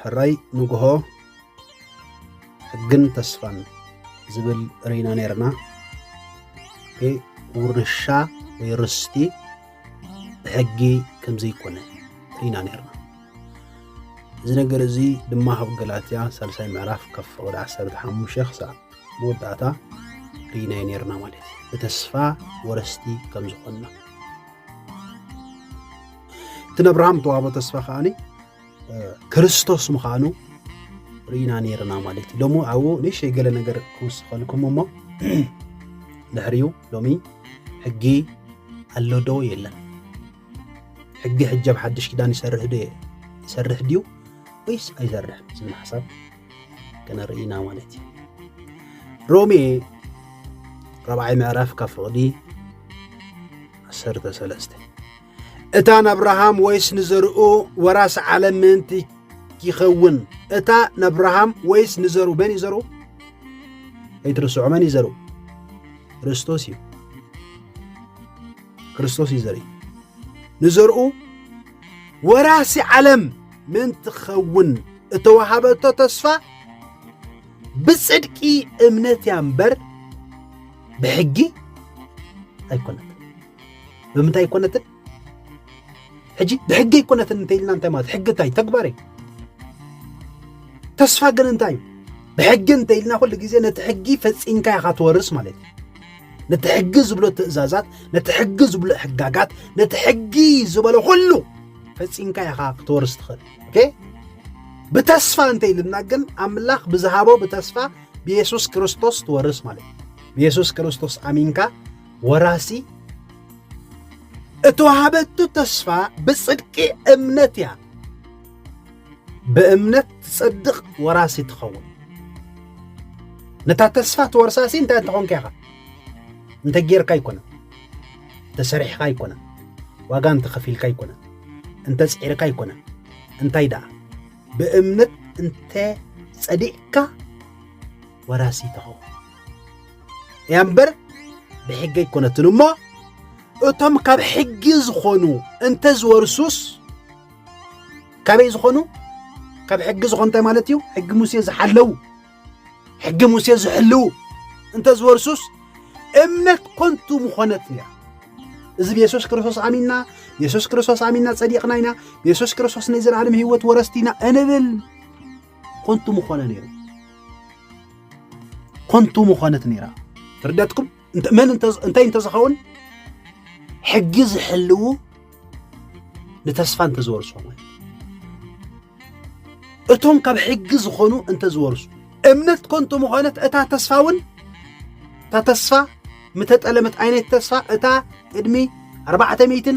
ሕራይ ንግሆ ሕግን ተስፋን ዝብል ርኢና ነርና ውርሻ ወይ ርስቲ ብሕጊ ከምዘይኮነ ርኢና ነርና። እዚ ነገር እዚ ድማ ኣብ ገላትያ ሳልሳይ ምዕራፍ ካብ ፍቕዲ ዓሰርተ ሓሙሽተ ክሳዕ መወዳእታ ርኢናዮ ነርና ማለት እዩ ብተስፋ ወረስቲ ከም ዝኾንና እቲ ነብርሃም ተዋህቦ ተስፋ ከዓኒ ክርስቶስ ምዃኑ ርኢና ነርና ማለት እዩ ሎሚ ኣብኡ ንእሽተይ ገለ ነገር ክውስኸልኩም እሞ ድሕሪኡ ሎሚ ሕጊ ኣሎ ዶ የለን ሕጊ ሕጃብ ሓድሽ ኪዳን ይሰርሕ ዶ ይሰርሕ ድዩ ወይስ ኣይሰርሕ ዝብል ሓሳብ ከነርእና ማለት እዩ ሮሜ ራብዓይ ምዕራፍ ካብ ፍቕዲ ዓሰርተ ሰለስተ እታ ናብርሃም ወይስ ንዘርኡ ወራሲ ዓለም ምእንቲ ይኸውን እታ ናብርሃም ወይስ ንዘሩ መን እዩ ዘርኡ ኣይትርስዑ መን እዩ ዘርኡ ክርስቶስ እዩ ክርስቶስ እዩ ዘርኢ ንዘርኡ ወራሲ ዓለም ምእንቲ ክኸውን እተዋሃበቶ ተስፋ ብጽድቂ እምነት እያ እምበር ብሕጊ ኣይኮነትን ብምንታይ ኣይኮነትን ሕጂ ብሕጊ ኣይኮነትን እንተ ኢልና እንታይ ማለት ሕጊ እንታይ ተግባር እዩ ተስፋ ግን እንታይ እዩ ብሕጊ እንተ ኢልና ኩሉ ግዜ ነቲ ሕጊ ፈፂምካ ኢኻ ትወርስ ማለት እዩ ነቲ ሕጊ ዝብሎ ትእዛዛት ነቲ ሕጊ ዝብሎ ሕጋጋት ነቲ ሕጊ ዝበሎ ኩሉ ፈፂምካ ኢኻ ክትወርስ ትኽእል ኦኬ ብተስፋ እንተ ኢልና ግን ኣምላኽ ብዝሃቦ ብተስፋ ብየሱስ ክርስቶስ ትወርስ ማለት እዩ ብየሱስ ክርስቶስ ኣሚንካ ወራሲ እተዋሃበቱ ተስፋ ብጽድቂ እምነት እያ ብእምነት ትጸድቕ ወራሲ ትኸውን ነታ ተስፋ ትወርሳሲ እንታይ እንተኾንካ ኢኻ እንተ ጌርካ ኣይኮነ ተሰሪሕኻ ኣይኮነ ዋጋ እንተ ኸፊልካ ኣይኮነ እንተ ጽዒርካ ኣይኮነ እንታይ ደኣ ብእምነት እንተ ጸዲቕካ ወራሲ ትኸውን እያ እምበር ብሕጊ ኣይኮነትን እሞ እቶም ካብ ሕጊ ዝኾኑ እንተ ዝወርሱስ ካበይ ዝኾኑ ካብ ሕጊ ዝኾኑ እንታይ ማለት እዩ ሕጊ ሙሴ ዝሓለው ሕጊ ሙሴ ዝሕልው እንተ ዝወርሱስ እምነት ኮንቱ ምኾነት እያ እዚ ብየሱስ ክርስቶስ ኣሚንና የሱስ ክርስቶስ ኣሚንና ጸዲቕና ኢና ብየሱስ ክርስቶስ ናይ ዘለዓለም ህይወት ወረስቲ ኢና እንብል ኮንቱ ምኾነ ነይሩ ኮንቱ ምኾነት ነይራ ትርደትኩም መን እንታይ እንተዝኸውን ሕጊ ዝሕልው ንተስፋ እንተዝወርሱ ማለት እቶም ካብ ሕጊ ዝኾኑ እንተዝወርሱ እምነት ኮንቱ ምኾነት እታ ተስፋ እውን እታ ተስፋ ምተጠለመት ዓይነት ተስፋ እታ ቅድሚ ኣርባዕተ ሚእትን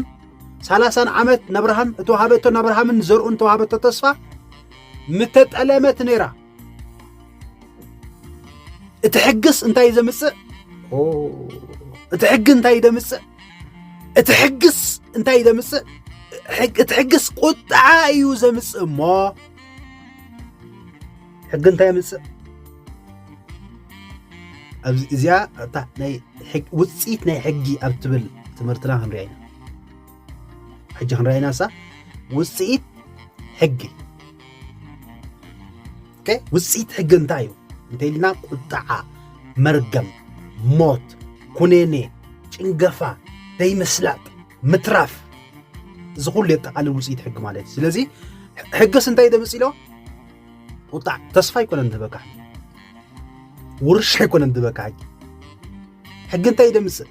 ሰላሳን ዓመት ነብርሃም እተዋሃበቶ ነብርሃምን ዘርኡን ተዋሃበቶ ተስፋ ምተጠለመት ነይራ እቲ ሕግስ እንታይ እዩ ዘምፅእ? እቲ ሕጊ እንታይ እዩ ዘምፅእ? እቲ ሕግስ እንታይ እዩ ዘምፅእ? እቲ ሕግስ ቁጥዓ እዩ ዘምፅእ እሞ ሕጊ እንታይ የምፅእ? ኣብዚ እዚኣ እታ ናይ ውፅኢት ናይ ሕጊ ኣብ ትብል ትምህርትና ክንሪኣ ኢና ሕጂ ክንረኣይናሳ ውፅኢት ሕጊ ውፅኢት ሕጊ እንታይ እዩ እንተኢልና ቁጣዓ መርገም ሞት ኩኔኔ ጭንገፋ ዘይምስላጥ ምትራፍ እዚ ኩሉ የጠቃልል ውፅኢት ሕጊ ማለት እዩ ስለዚ ሕግስ እንታይ ደምፅ ኢሎ ቁጣዕ ተስፋ ኣይኮነን ዝበካ ውርሻ ኣይኮነን ዝበካ ሕጊ እንታይ ደምፅእ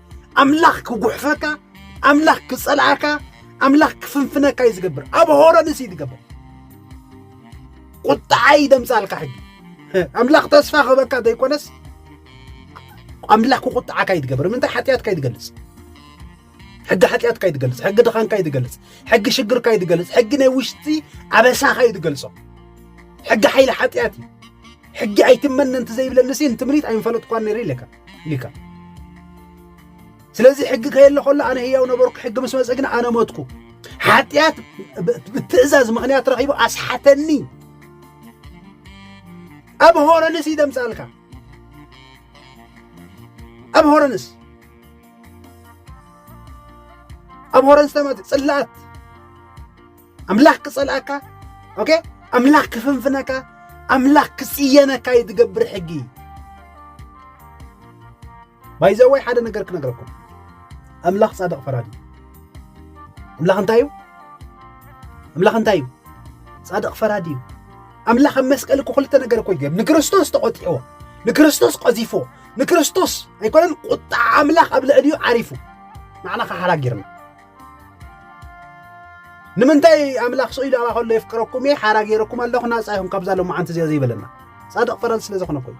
ኣምላኽ ክጉሕፈካ ኣምላኽ ክጸልኣካ ኣምላኽ ክፍንፍነካ እዩ ዝገብር ኣብ ሆረንስ እዩ ዝገብር ቁጣዓ እዩ ደምጻልካ ሕጂ ኣምላኽ ተስፋ ክህበካ ዘይኮነስ ኣምላኽ ክቁጣዓካ እዩ ዝገብር ምንታይ ሓጢኣትካ እዩ ዝገልጽ ሕጊ ሓጢኣትካ እዩ ዝገልጽ ሕጊ ድኻንካ እዩ ዝገልጽ ሕጊ ሽግርካ እዩ ዝገልጽ ሕጊ ናይ ውሽጢ ኣበሳኻ እዩ ዝገልጾ ሕጊ ሓይሊ ሓጢኣት እዩ ሕጊ ኣይትመነንቲ ዘይብለንሲ እንትምኒት ኣይንፈለጥኳን ነይረ ኢለካ ኢልካ ስለዚ ሕጊ ከየለ ከሎ ኣነ ህያው ነበርኩ ሕጊ ምስ መፀ ግን ኣነ ሞትኩ ሓጢኣት ብትእዛዝ ምክንያት ረኺቡ ኣስሓተኒ ኣብ ሆረንስ እዩ ደምፃልካ ኣብ ሆረንስ ኣብ ሆረንስ ተመ ፅላት ኣምላኽ ክጸልኣካ ኦኬ ኣምላኽ ክፍንፍነካ ኣምላኽ ክጽየነካ እዩ ዝገብር ሕጊ ባይዘወይ ሓደ ነገር ክነግረኩም ኣምላኽ ጻድቕ ፈራድ እዩ ኣምላኽ እንታይ እዩ ኣምላኽ እንታይ እዩ ጻድቕ ፈራድ እዩ ኣምላኽ ኣብ መስቀል እኮ ክልተ ነገር እኮ ይገብ ንክርስቶስ ተቖጢዕዎ ንክርስቶስ ቀዚፎ ንክርስቶስ ኣይኮነን ቁጣ ኣምላኽ ኣብ ልዕሊኡ ዓሪፉ ንዓና ከሓራጊርና ንምንታይ ኣምላኽ ስኢሉ ኣባ ከሎ የፍቅረኩም እየ ሓራ ገይረኩም ኣለኹ ናፃ ይኹም ካብዛ ሎማዓንቲ እዚኣ ዘይበለና ፃድቕ ፈረንስ ስለ ዝኾነ ኮይኑ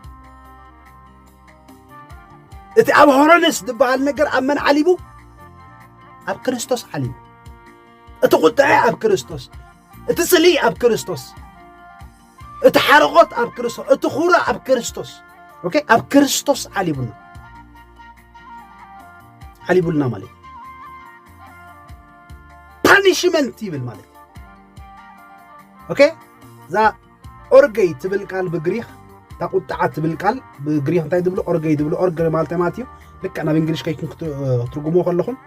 እቲ ኣብ ሆሮንስ ዝበሃል ነገር ኣብ መን ዓሊቡ ኣብ ክርስቶስ ዓሊቡ እቲ ቁጥዐ ኣብ ክርስቶስ እቲ ስሊ ኣብ ክርስቶስ እቲ ሓርቆት ኣብ ክርስቶስ እቲ ኩረ ኣብ ክርስቶስ ኦኬ ኣብ ክርስቶስ ዓሊቡና ዓሊቡልና ማለት ፓኒሽመንት ይብል ማለት ኦኬ እዛ ኦርገይ ትብል ቃል ብግሪክ እታ ቁጥዓ ትብል ቃል ብግሪክ እንታይ ትብሉ ኦርገይ ትብሉ ኦርገ ማለት ማለት እዩ ልክዕ ናብ እንግሊሽ ከይኩም ክትርጉሞ ከለኹም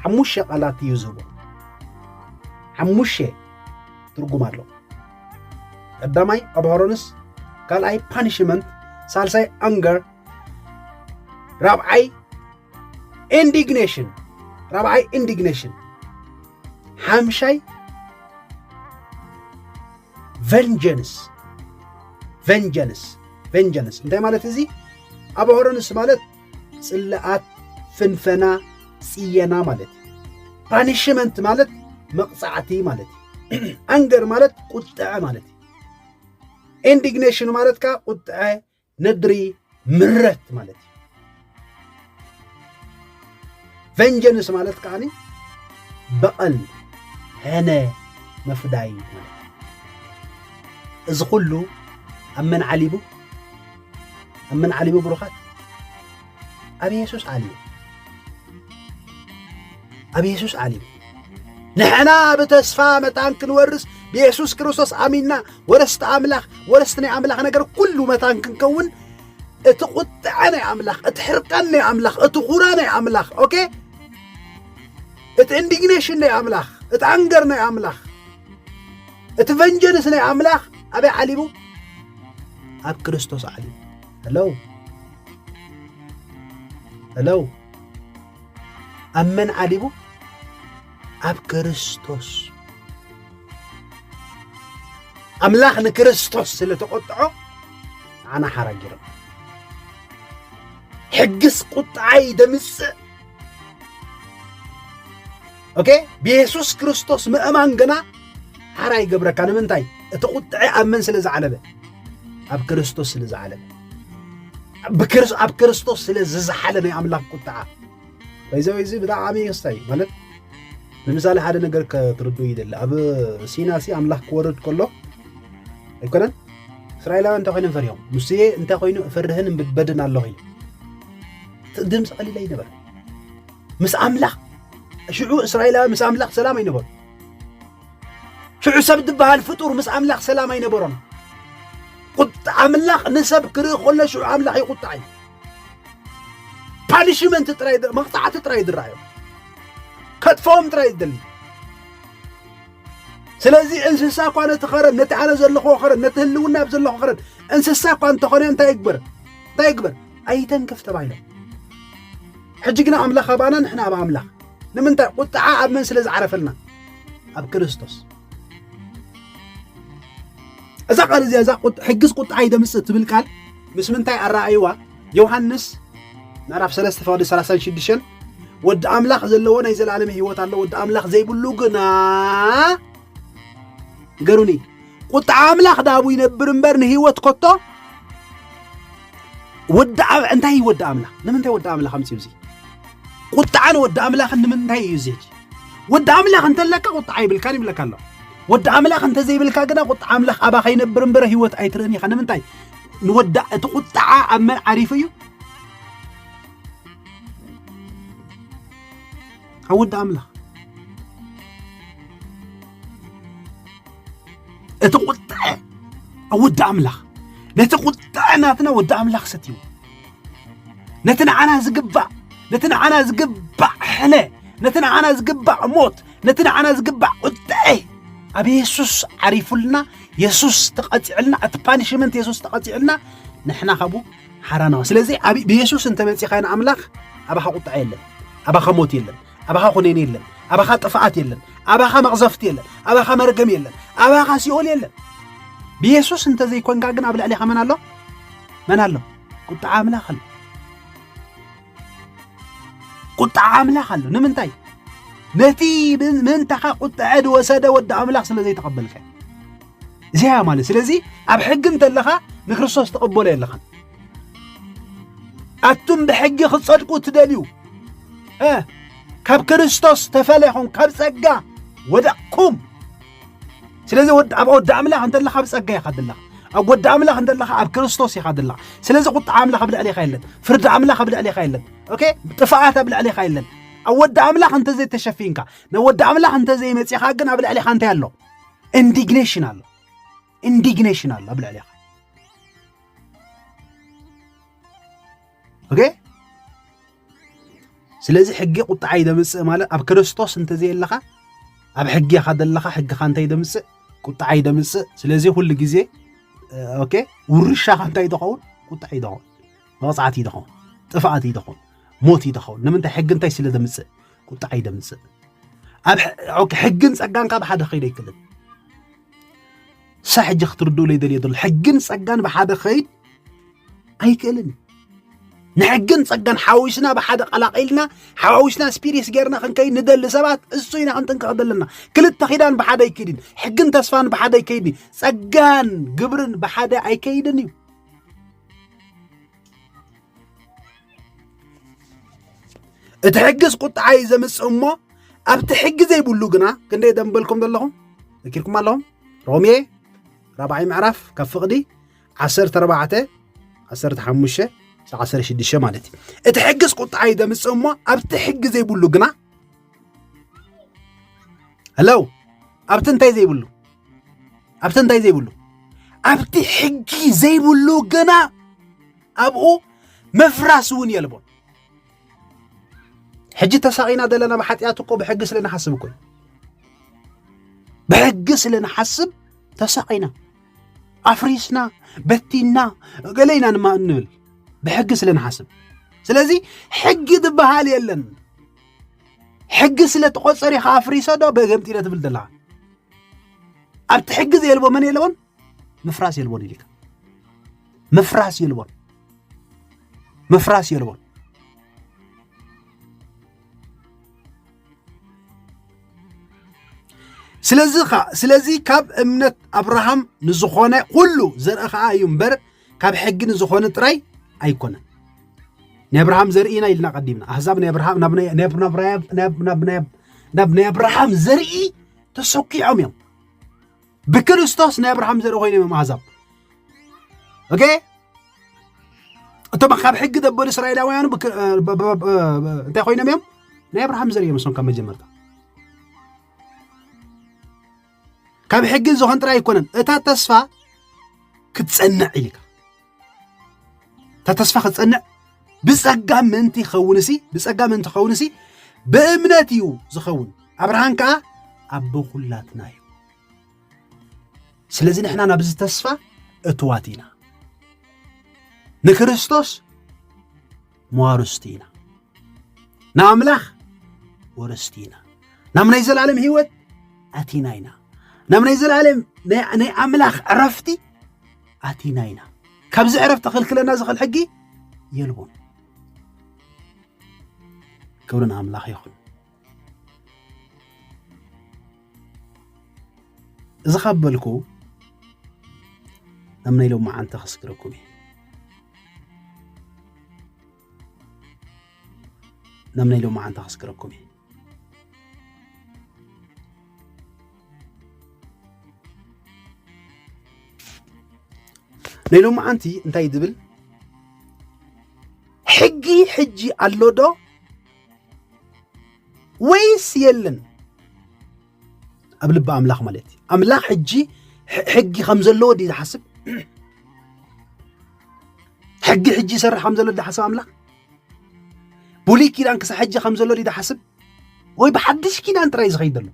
ሓሙሸ ቃላት እዩ ዝህቦ ሓሙሸ ትርጉም ኣሎ ቀዳማይ ኣብሃሮንስ ካልኣይ ፓኒሽመንት ሳልሳይ ኣንገር ራብዓይ ኢንዲግኔሽን ራብዓይ ኢንዲግኔሽን ሓምሻይ ቨንጀንስ ቨንጀንስ ቨንጀንስ እንታይ ማለት እዚ ኣብ ሆረንስ ማለት ጽልኣት ፍንፈና ጽየና ማለት እዩ ፓኒሽመንት ማለት መቕጻዕቲ ማለት እዩ ኣንገር ማለት ቁጥዐ ማለት እዩ ኢንዲግኔሽን ማለት ከዓ ቁጥዐ ነድሪ ምረት ማለት እዩ ቨንጀንስ ማለት ከዓ በቐል ሕነ መፍዳይ ማለት እዩ እዚ ኩሉ ኣብ መን ዓሊቡ ኣብ መን ዓሊቡ ብሩኻት ኣብ የሱስ ዓልዩ ኣብ የሱስ ዓልዩ ንሕና ብተስፋ መታን ክንወርስ ብየሱስ ክርስቶስ ኣሚንና ወረስቲ ኣምላኽ ወረስቲ ናይ ኣምላኽ ነገር ኩሉ መታን ክንከውን እቲ ቁጥዐ ናይ ኣምላኽ እቲ ሕርቃን ናይ ኣምላኽ እቲ ኹራ ናይ ኣምላኽ ኦኬ እቲ ኢንዲግኔሽን ናይ ኣምላኽ እቲ ኣንገር ናይ ኣምላኽ እቲ ቨንጀንስ ናይ ኣምላኽ ኣበይ ዓሊቡ ኣብ ክርስቶስ ዓሊቡ Hello? Hello? ኣብ መን ዓሊቡ? ኣብ ክርስቶስ ኣምላኽ ንክርስቶስ ስለ ተቖጥዖ ንዓና ሓራጊሮም ሕግስ ቁጥዓ እዩ ደምጽእ ኦኬ ብየሱስ ክርስቶስ ምእማን ግና ሓራ ይገብረካ ንምንታይ እቲ ቁጥዐ ኣብ መን ስለ ዝዓለበ ኣብ ክርስቶስ ስለ ዝዓለበ ኣብ ክርስቶስ ስለ ዝዝሓለ ናይ ኣምላኽ ቁጥዓ ወይዘወ እዚ ብጣዕሚ ወሳኝ ማለት ንምሳሌ ሓደ ነገር ክትርዱ ይደሊ ኣብ ሲና ሲ ኣምላኽ ክወርድ ከሎ ኣይኮነን እስራኤላውያን እንታይ ኮይኖም ፈሪሆም ሙሴ እንታይ ኮይኑ እፈርህን እምብበድን ኣለኹ ድምፂ ቀሊል ኣይነበረ ምስ ኣምላኽ ሽዑ እስራኤላዊ ምስ ኣምላኽ ሰላም ኣይነበሩ ሽዑ ሰብ ዝበሃል ፍጡር ምስ ኣምላኽ ሰላም ኣይነበሮን ቁጣ ኣምላኽ ንሰብ ክርኢ ከሎ ሽዑ ኣምላኽ ይቁጣዕ እዩ ፓኒሽመንት ጥራይ መቕፃዕቲ ጥራይ ዝረኣዮ ከጥፈኦም ጥራይ ዝደሊ ስለዚ እንስሳ እኳ ነቲ ኸረን ነቲ ኣነ ዘለኹዎ ኸረን ነቲ ህልውና ኣብ ዘለኹ ኸረን እንስሳ እኳ እንተኾነ እንታይ ይግበር እንታይ ይግበር ኣይተንክፍ ተባሂሎም። ሕጂ ግና ኣምላኽ ኣባና ንሕና ኣብ ኣምላኽ ንምንታይ ቁጥዓ ኣብ መን ስለ ዝዓረፈልና ኣብ ክርስቶስ እዛ ቃል እዚኣ እዛ ሕግስ ቁጥዓ ይደምጽእ ትብል ቃል ምስ ምንታይ ኣረኣይዋ ዮሃንስ ምዕራፍ 3 ፈቅዲ 36 ወዲ ኣምላኽ ዘለዎ ናይ ዘለኣለም ህይወት ኣሎ ወዲ ኣምላኽ ዘይብሉ ግና ንገሩኒ ቁጥዓ ኣምላኽ ዳቡ ይነብር እምበር ንህይወት ኮቶ ወዲ ኣብ እንታይ እዩ ወዲ ኣምላኽ ንምንታይ ወዲ ኣምላኽ ኣምፅኡ እዚ ቁጣዓን ወዲ ኣምላኽን ንምንታይ እዩ እዚ ወዲ ኣምላኽ እንተለካ ቁጣዓ ይብልካን ይብለካ ኣሎ ወዲ ኣምላኽ እንተዘይብልካ ግና ቁጣዓ ኣምላኽ ኣባ ከይነብር እምበረ ህይወት ኣይትርእን ኢኻ ንምንታይ ንወዳ እቲ ቁጣዓ ኣብ መን ዓሪፉ እዩ ካብ ወዲ ኣምላኽ እቲ ቁጥዐ ኣብ ወዲ ኣምላኽ ነቲ ቁጥዐ ናትና ወዲ ኣምላኽ ሰትይዎ ነቲ ንዓና ዝግባእ ነቲ ንዓና ዝግባእ ሕነ ነቲ ንዓና ዝግባእ ሞት ነቲ ንዓና ዝግባእ ቁጥዐ ኣብ የሱስ ዓሪፉልና የሱስ ተቐፂዕልና እቲ ፓኒሽመንት የሱስ ተቐፂዕልና ንሕና ካብኡ ሓራ ነዋ ስለዚ ኣብ ብየሱስ እንተ መጺኻ ንኣምላኽ ኣባኻ ቁጥዐ የለን ኣባኻ ሞት የለን ኣባኻ ኩነኔ የለን ኣባኻ ጥፍኣት የለን ኣባኻ መቕዘፍቲ የለን ኣባኻ መርገም የለን ኣባኻ ሲኦል የለን ብየሱስ እንተ ዘይኮንካ ግን ኣብ ልዕሊኻ መን ኣሎ መን ኣሎ ቁጥዓ ኣምላኽ ኣሎ ቁጥዓ ኣምላኽ ኣሎ ንምንታይ ነቲ ምንታኻ ቁጥዐ ዝወሰደ ወዲ ኣምላኽ ስለ ዘይተቐበልካ እዚያ ማለት ስለዚ ኣብ ሕጊ እንተለኻ ንክርስቶስ ትቕበሎ የለኻን ኣቱም ብሕጊ ክትጸድቁ እትደልዩ ካብ ክርስቶስ ተፈለኹም ካብ ጸጋ ወደቕኩም ስለዚ ኣብ ወዲ ኣምላኽ እንተለኻ ኣብ ጸጋ ኢኻ ዘለኻ ኣብ ወዲ ኣምላኽ እንተለኻ ኣብ ክርስቶስ ኢኻ ዘለኻ ስለዚ ቁጣዕ ኣምላኽ ኣብ ልዕሌኻ የለን ፍርዲ ኣምላኽ ኣብ ልዕሌኻ የለን ኦኬ ጥፍኣት ኣብ ልዕሌኻ የለን ኣብ ወዲ ኣምላኽ እንተዘይተሸፊንካ ናብ ወዲ ኣምላኽ እንተዘይመጺኻ ግን ኣብ ልዕሌኻ እንታይ ኣሎ ኢንዲግኔሽን ኣሎ ኢንዲግኔሽን ኣሎ ኣብ ልዕሌኻ ኦኬ ስለዚ ሕጊ ቁጥዓ እዩ ዘምፅእ ማለት ኣብ ክርስቶስ እንተዘየለኻ ኣብ ሕጊ ኢኻ ዘለኻ ሕግኻ እንታይ ደምፅእ ቁጥዓ እዩ ደምፅእ ስለዚ ኩሉ ግዜ ኦኬ ውርሻኻ እንታይ እዩ ዝኸውን ቁጥዓ እዩ ዝኸውን መቕፃዕቲ እዩ ዝኸውን ጥፍኣት እዩ ዝኸውን ሞት እዩ ዝኸውን ንምንታይ ሕጊ እንታይ ስለ ዘምፅእ ቁጣዕ ይደምፅእ ኣብ ሕግን ፀጋን ካብ ሓደ ከይድ ኣይክልን ሳ ሕጂ ክትርድኡለይ ደልየ ዘሎ ሕግን ፀጋን ብሓደ ከይድ ኣይክእልን ንሕግን ፀጋን ሓዊስና ብሓደ ቀላቂልና ሓዋዊስና ስፒሪስ ጌርና ክንከይድ ንደሊ ሰባት እሱ ኢና ክንጥንቀቕ ዘለና ክልተ ኪዳን ብሓደ ኣይከይድን ሕግን ተስፋን ብሓደ ኣይከይድን ፀጋን ግብርን ብሓደ ኣይከይድን እዩ እቲ ሕግስ ቁጥዓ እዩ ዘምፅእ እሞ ኣብቲ ሕጊ ዘይብሉ ግና ክንደይ ደንበልኩም ዘለኹም ዘኪርኩም ኣለኹም ሮሜ ራብዓይ ምዕራፍ ካብ ፍቕዲ ዓሰርተ ኣርባዕተ ዓሰርተ ሓሙሽተ ዓሰርተ ሽዱሽተ ማለት እዩ እቲ ሕግስ ቁጥዓ እዩ ዘምፅእ እሞ ኣብቲ ሕጊ ዘይብሉ ግና ሄሎ ኣብቲ እንታይ ዘይብሉ ኣብቲ እንታይ ዘይብሉ ኣብቲ ሕጂ ዘይብሉ ግና ኣብኡ ምፍራስ እውን የልቦን ሕጂ ተሳቂና ዘለና ብሓጢኣት እኮ ብሕጊ ስለ ንሓስብ እኮ ብሕጊ ስለ ንሓስብ ተሳቂና ኣፍሪስና በቲና ገለ ኢና ድማ እንብል ብሕጊ ስለ ንሓስብ ስለዚ ሕጊ ዝበሃል የለን ሕጊ ስለ ተቆፀር ኢኻ ኣፍሪሰ ዶ በገምጢለ ትብል ዘለኻ ኣብቲ ሕጊ ዘየልቦ መን የለቦን ምፍራስ የልቦን ኢልካ ምፍራስ የልቦን ምፍራስ የልቦን ስለዚ ካብ እምነት ኣብርሃም ንዝኾነ ኩሉ ዘርኢ ከዓ እዩ እምበር ካብ ሕጊ ንዝኾነ ጥራይ ኣይኮነን ናይ ኣብርሃም ዘርኢና ኢልና ቀዲምና ኣህዛብ ናይ ኣብርሃም ናብ ናይ ኣብርሃም ዘርኢ ተሰኪዖም እዮም ብክርስቶስ ናይ ኣብርሃም ዘርኢ ኮይኖም እዮም ኣህዛብ ኦኬ እቶም ካብ ሕጊ ዘበሉ እስራኤላውያኑ እንታይ ኮይኖም እዮም ናይ ኣብርሃም ዘርኢ እዮም እሶም ካብ መጀመርታ ካብ ሕጊ ዝኾን ጥራይ ኣይኮነን እታ ተስፋ ክትጸንዕ ኢልካ እታ ተስፋ ክትጸንዕ ብጸጋ ምእንቲ ይኸውን ሲ ብጸጋ ምእንቲ ኸውን ሲ ብእምነት እዩ ዝኸውን ኣብርሃን ከዓ ኣቦ ኩላትና እዩ ስለዚ ንሕና ናብዚ ተስፋ እትዋት ኢና ንክርስቶስ መዋርስቲ ኢና ንኣምላኽ ወረስቲ ኢና ናብ ናይ ዘለዓለም ህይወት ኣቲና ኢና ናብ ናይ ዘለዓለም ናይ ኣምላኽ ዕረፍቲ ኣቲና ኢና ካብዚ ዕረፍቲ ክልክለና ዝኽእል ሕጊ የልቦን ክብሪ ንኣምላኽ ይኹን እዚ ካብ በልኩ ኣብ ናይ ሎሚ መዓልቲ ከስግረኩም እየ ናብ ናይ ሎሚ መዓልቲ ከስግረኩም እየ ናይ ሎሚ መዓልቲ እንታይ ድብል ሕጊ ሕጂ ኣሎ ዶ ወይስ የለን ኣብ ልቢ ኣምላኽ ማለት እዩ ኣምላኽ ሕጂ ሕጊ ከም ዘለዎ ድዩ ዝሓስብ ሕጊ ሕጂ ይሰርሕ ከም ዘሎ ዝሓስብ ኣምላኽ ብሉይ ኪዳን ክሳብ ሕጂ ከም ዘሎ ድዩ ዝሓስብ ወይ ብሓድሽ ኪዳን ጥራይ ዝኸይድ ዘሎ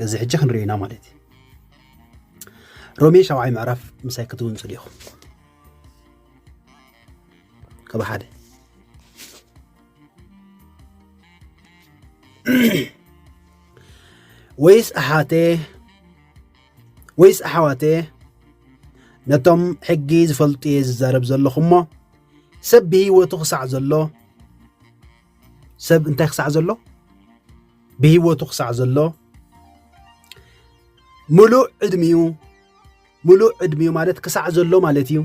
እዚ ሕጂ ክንሪኦ ኢና ማለት እዩ ሮሜ ሻብዓይ ምዕራፍ ምሳይ ክትውንፁ ዲኹም ካብ ሓደ ወይስ ኣሓቴ ወይስ ኣሕዋት እየ ነቶም ሕጊ ዝፈልጡ እየ ዝዛረብ ዘለኹ እሞ ሰብ ብህይወቱ ክሳዕ ዘሎ ሰብ እንታይ ክሳዕ ዘሎ ብህይወቱ ክሳዕ ዘሎ ምሉእ ዕድሚኡ ምሉእ ዕድሚኡ ማለት ክሳዕ ዘሎ ማለት እዩ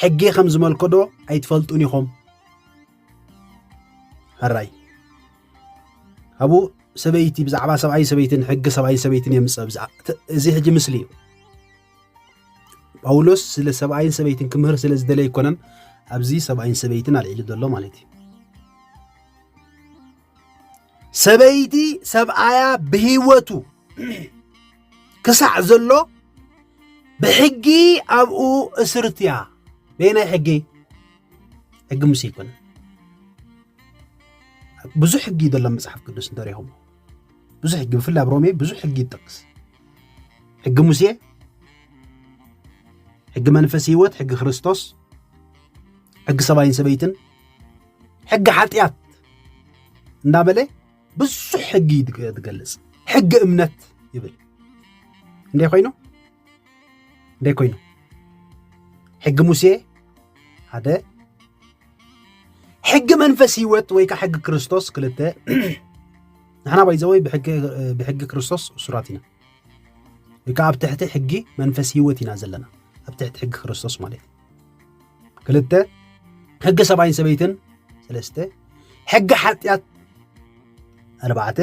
ሕጊ ከም ዝመልከዶ ኣይትፈልጡን ኢኹም ሕራይ ኣብኡ ሰበይቲ ብዛዕባ ሰብኣይ ሰበይትን ሕጊ ሰብኣይ ሰበይትን የምፅእ ብዛ እዚ ሕጂ ምስሊ እዩ ጳውሎስ ስለ ሰብኣይን ሰበይትን ክምህር ስለ ዝደለ ኣይኮነን ኣብዚ ሰብኣይን ሰበይትን ኣልዒሉ ዘሎ ማለት እዩ ሰበይቲ ሰብኣያ ብህይወቱ ክሳዕ ዘሎ ብሕጊ ኣብኡ እስርትያ በየናይ ሕጊ ሕጊ ሙሴ ኣይኮነን ብዙሕ ሕጊ እዩ ዘሎ መፅሓፍ ቅዱስ እንተሪኹም ብዙሕ ሕጊ ብፍላይ ኣብ ሮሜ ብዙሕ ሕጊ ይጠቅስ ሕጊ ሙሴ ሕጊ መንፈስ ህይወት ሕጊ ክርስቶስ ሕጊ ሰብኣይን ሰበይትን ሕጊ ሓጢኣት እንዳበለ ብዙሕ ሕጊ ትገልጽ ሕጊ እምነት ይብል እንደ ኮይኑ እንታይ ኮይኑ ሕጊ ሙሴ ሓደ ሕጊ መንፈስ ህይወት ወይ ከዓ ሕጊ ክርስቶስ ክልተ ንሕና ባይዘወይ ብሕጊ ክርስቶስ እሱራት ኢና ወይ ከዓ ኣብ ትሕቲ ሕጊ መንፈስ ህይወት ኢና ዘለና ኣብ ትሕቲ ሕጊ ክርስቶስ ማለት እዩ ክልተ ሕጊ ሰብኣይን ሰበይትን ሰለስተ ሕጊ ሓጢኣት ኣርባዕተ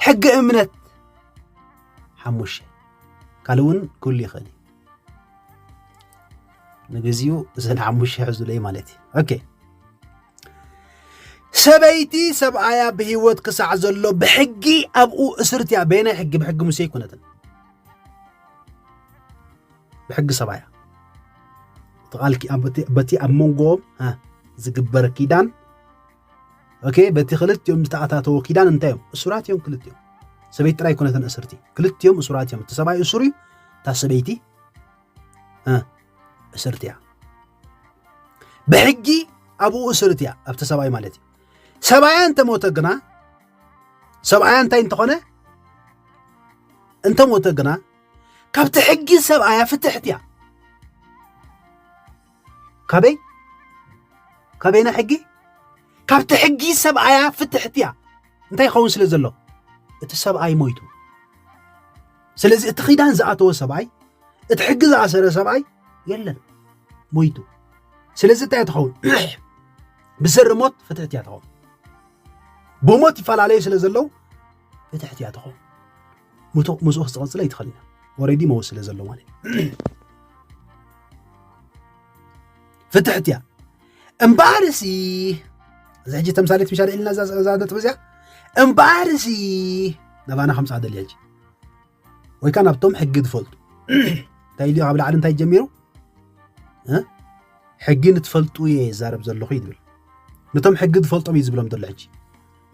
ሕጊ እምነት ሓሙሽተ ካልእ እውን ክህሉ ይኽእል እዩ ንግዚኡ እዘን ሓሙሽተ ሕዙለይ ማለት እዩ ኦኬ ሰበይቲ ሰብኣያ ብሂወት ክሳዕ ዘሎ ብሕጊ ኣብኡ እስርቲ እያ በየናይ ሕጊ ብሕጊ ሙሴ ኣይኮነትን ብሕጊ ሰብኣያ በቲ ኣብ መንጎኦም ዝግበር ኪዳን ኦኬ በቲ ክልቲኦም ዝተኣታተዎ ኪዳን እንታይ እዮም እሱራት እዮም ክልቲኦም ሰበይቲ ጥራይ ኮነተን እስርቲ ክልቲኦም እሱራት እዮም እቲ ሰብኣይ እሱር እዩ እታ ሰበይቲ እስርቲ እያ ብሕጊ ኣብኡ እስርት እያ ኣብቲ ሰብኣይ ማለት እዩ ሰብኣያ እንተሞተ ግና ሰብኣያ እንታይ እንተኾነ እንተሞተ ግና ካብቲ ሕጊ ሰብኣያ ፍትሕት እያ ካበይ ካበይና ሕጊ ካብቲ ሕጊ ሰብኣያ ፍትሕቲ እያ እንታይ ይኸውን ስለ ዘሎ እቲ ሰብኣይ ሞይቱ ስለዚ እቲ ኺዳን ዝኣተወ ሰብኣይ እቲ ሕጊ ዝኣሰረ ሰብኣይ የለን ሞይቱ ስለዚ እንታይ እያ ትኸውን ብሰሪ ሞት ፍትሕቲ እያ ትኸውን ብሞት ይፈላለዩ ስለ ዘለው ፍትሕቲ እያ ትኸውን ምቶ ምስኡ ክዝቐፅለ ኣይትኽእልን ኦሬዲ መወ ስለ ዘሎ ማለት ፍትሕት እያ እምበኣርሲ እዚ ሕጂ ተምሳሌት ምሻ ኢልና እዛ ነጥቢ እዚያ እምበኣርሲ ናባና ከምፃ ደልያ ሕጂ ወይ ከዓ ናብቶም ሕጊ ዝፈልጡ እንታይ ኢልዮ ካብ ላዕሊ እንታይ ጀሚሩ ሕጊ ንትፈልጡ እየ ይዛረብ ዘለኹ እዩ ዝብል ነቶም ሕጊ ዝፈልጦም እዩ ዝብሎም ዘሎ ሕጂ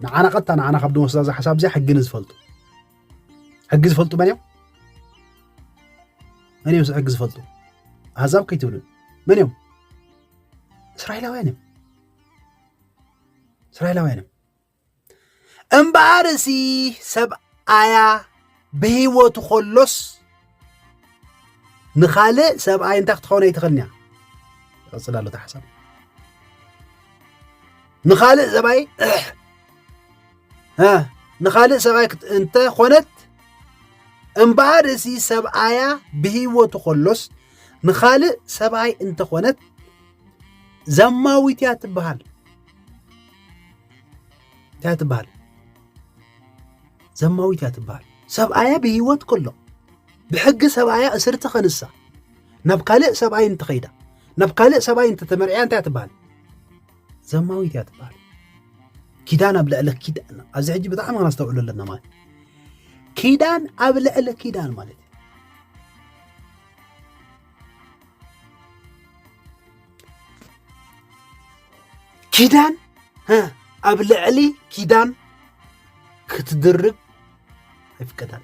ንዓና ቀጥታ ንዓና ካብ ድወስዳ እዛ ሓሳብ እዚኣ ሕጊ ንዝፈልጡ ሕጊ ዝፈልጡ መን እዮም መን እዮም ሕጊ ዝፈልጡ ኣህዛብ ከይትብሉ መን እዮም እስራኤላውያን እዮም እስራኤላውያን እዮም እምበኣር እዚ ሰብኣያ ብህይወቱ ከሎስ ንኻልእ ሰብኣይ እንታይ ክትኸውን ኣይትኽእልን እያ ይቐፅል ኣሎ ተሓሳብ ንኻልእ ሰብኣይ ንኻልእ ሰብኣይ እንተ ኾነት እምበኣር እዚ ሰብኣያ ብህይወቱ ከሎስ ንኻልእ ሰብኣይ እንተኾነት ዘማዊት እያ ትበሃል እያ ትበሃል ዘማዊት እያ ትበሃል ሰብኣያ ብህይወት ከሎ ብሕጊ ሰብኣያ እስርቲ ከንሳ ናብ ካልእ ሰብኣይ እንተኸይዳ ናብ ካልእ ሰብኣይ እንተተመርዕያ እንታይ ትበሃል ዘማዊት እያ ትበሃል ኪዳን ኣብ ልዕሊ ኪዳን ኣብዚ ሕጂ ብጣዕሚ ከነስተውዕሉ ኣለና ማለት ኪዳን ኣብ ልዕሊ ኪዳን ማለት ኪዳን ኣብ ልዕሊ ኪዳን ክትድርብ ኣይፍቀዳን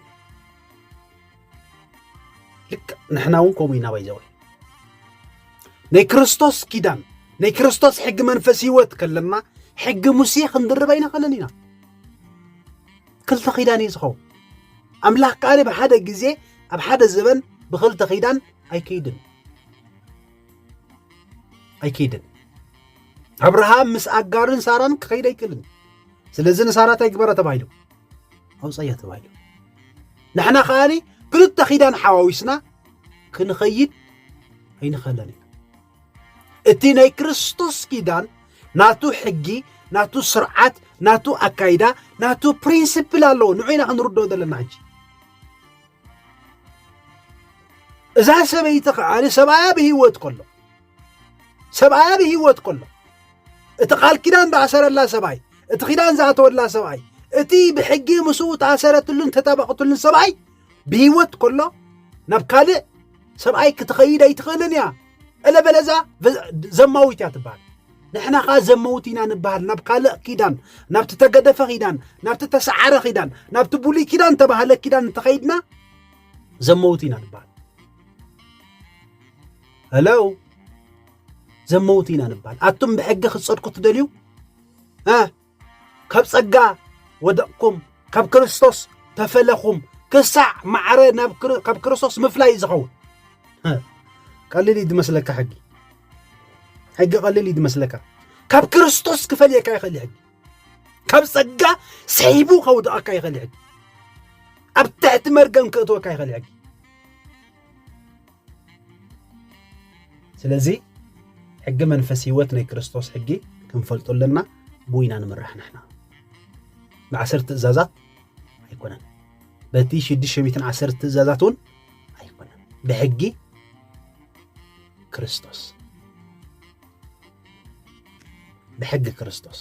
ልክ ንሕና እውን ከምኡ ኢና ባይዘወ ናይ ክርስቶስ ኪዳን ናይ ክርስቶስ ሕጊ መንፈስ ህይወት ከለና ሕጊ ሙሴ ክንድርብ ኣይንኽእልን ኢና ክልተ ኪዳን እዩ ዝኸውን ኣምላኽ ካሊ ብሓደ ግዜ ኣብ ሓደ ዘበን ብክልተ ኪዳን ኣይከይድን ኣይከይድን ኣብርሃም ምስ ኣጋርን ሳራን ክኸይድ ኣይክእልን ስለዚ ንሳራ እንታይ ግበራ ተባሂሉ ኣውፀያ ተባሂሉ ንሕና ከኣኒ ክልተ ኪዳን ሓዋዊስና ክንኸይድ ኣይንኸለን ኢና እቲ ናይ ክርስቶስ ኪዳን ናቱ ሕጊ ናቱ ስርዓት ናቱ ኣካይዳ ናቱ ፕሪንስፕል ኣለዎ ንዑ ኢና ክንርድኦ ዘለና ሕጂ እዛ ሰበይቲ ከዓ ሰብኣያ ብሂወት ከሎ ሰብኣያ ብሂወት ከሎ እቲ ቃል ኪዳን ዝኣሰረላ ሰብኣይ እቲ ኪዳን ዝኣተወላ ሰብኣይ እቲ ብሕጊ ምስኡ ተኣሰረትሉን ተጠበቕትሉን ሰብኣይ ብሂወት ከሎ ናብ ካልእ ሰብኣይ ክትኸይድ ኣይትኽእልን እያ እለበለዛ ዘማዊት እያ ትበሃል ንሕና ከዓ ዘመውት ኢና ንበሃል ናብ ካልእ ኪዳን ናብቲ ተገደፈ ኪዳን ናብቲ ተሰዓረ ኪዳን ናብቲ ብሉይ ኪዳን ተባህለ ኪዳን እንተኸይድና ዘመውት ኢና ንበሃል ሄሎ ዘመውት ኢና ንበሃል ኣቱም ብሕጊ ክትፀድቁ ትደልዩ ካብ ጸጋ ወደቕኩም ካብ ክርስቶስ ተፈለኹም ክሳዕ ማዕረ ካብ ክርስቶስ ምፍላይ እዩ ዝኸውን ቀሊል እዩ ዝመስለካ ሕጊ ሕጊ ቀሊል እዩ ዝመስለካ ካብ ክርስቶስ ክፈልየካ ይኽእል ሕጊ ካብ ጸጋ ስሒቡ ከውድቐካ ይኽእል ሕጊ ኣብ ትሕቲ መርገም ክእትወካ ይኽእል ሕጊ ስለዚ ሕጊ መንፈስ ህይወት ናይ ክርስቶስ ሕጊ ክንፈልጡ ኣለና ብኡ ኢና ንምራሕ ንሕና ብዓሰርተ ትእዛዛት ኣይኮነን በቲ ሽዱሽተ ሚትን ዓሰርተ ትእዛዛት እውን ኣይኮነን ብሕጊ ክርስቶስ ብሕጊ ክርስቶስ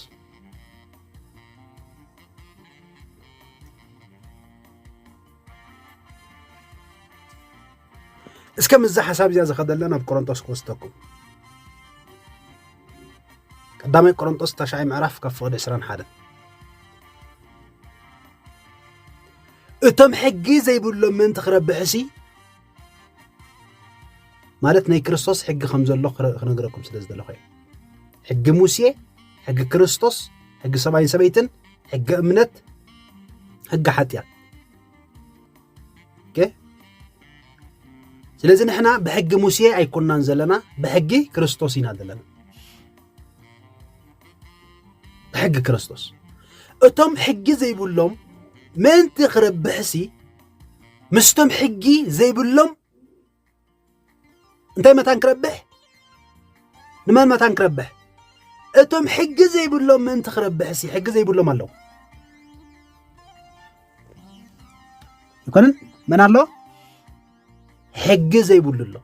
እስከ ምስዛ ሓሳብ እዚኣ ዝኸደለ ናብ ቆሮንጦስ ክወስደኩም ቀዳማይ ቆሮንጦስ ታሽዓይ ምዕራፍ ካብ ፍቕዲ 21 እቶም ሕጊ ዘይብሎም ምእንቲ ክረብሕሲ ማለት ናይ ክርስቶስ ሕጊ ከም ዘሎ ክነግረኩም ስለ ዝደለኹ እዩ ሕጊ ሙሴ ሕጊ ክርስቶስ ሕጊ ሰብኣይን ሰበይትን ሕጊ እምነት ሕጊ ሓጢኣት ስለዚ ንሕና ብሕጊ ሙሴ ኣይኮናን ዘለና ብሕጊ ክርስቶስ ኢና ዘለና ብሕጊ ክርስቶስ እቶም ሕጊ ዘይብሎም ምእንቲ ክረብሕሲ ምስቶም ሕጊ ዘይብሎም እንታይ መታን ክረብሕ ንመን መታን ክረብሕ እቶም ሕጊ ዘይብሎም ምእንቲ ክረብሕ ሲ ሕጊ ዘይብሎም ኣለዉ ይኮንን መን ኣሎ ሕጊ ዘይብሉ ኣሎ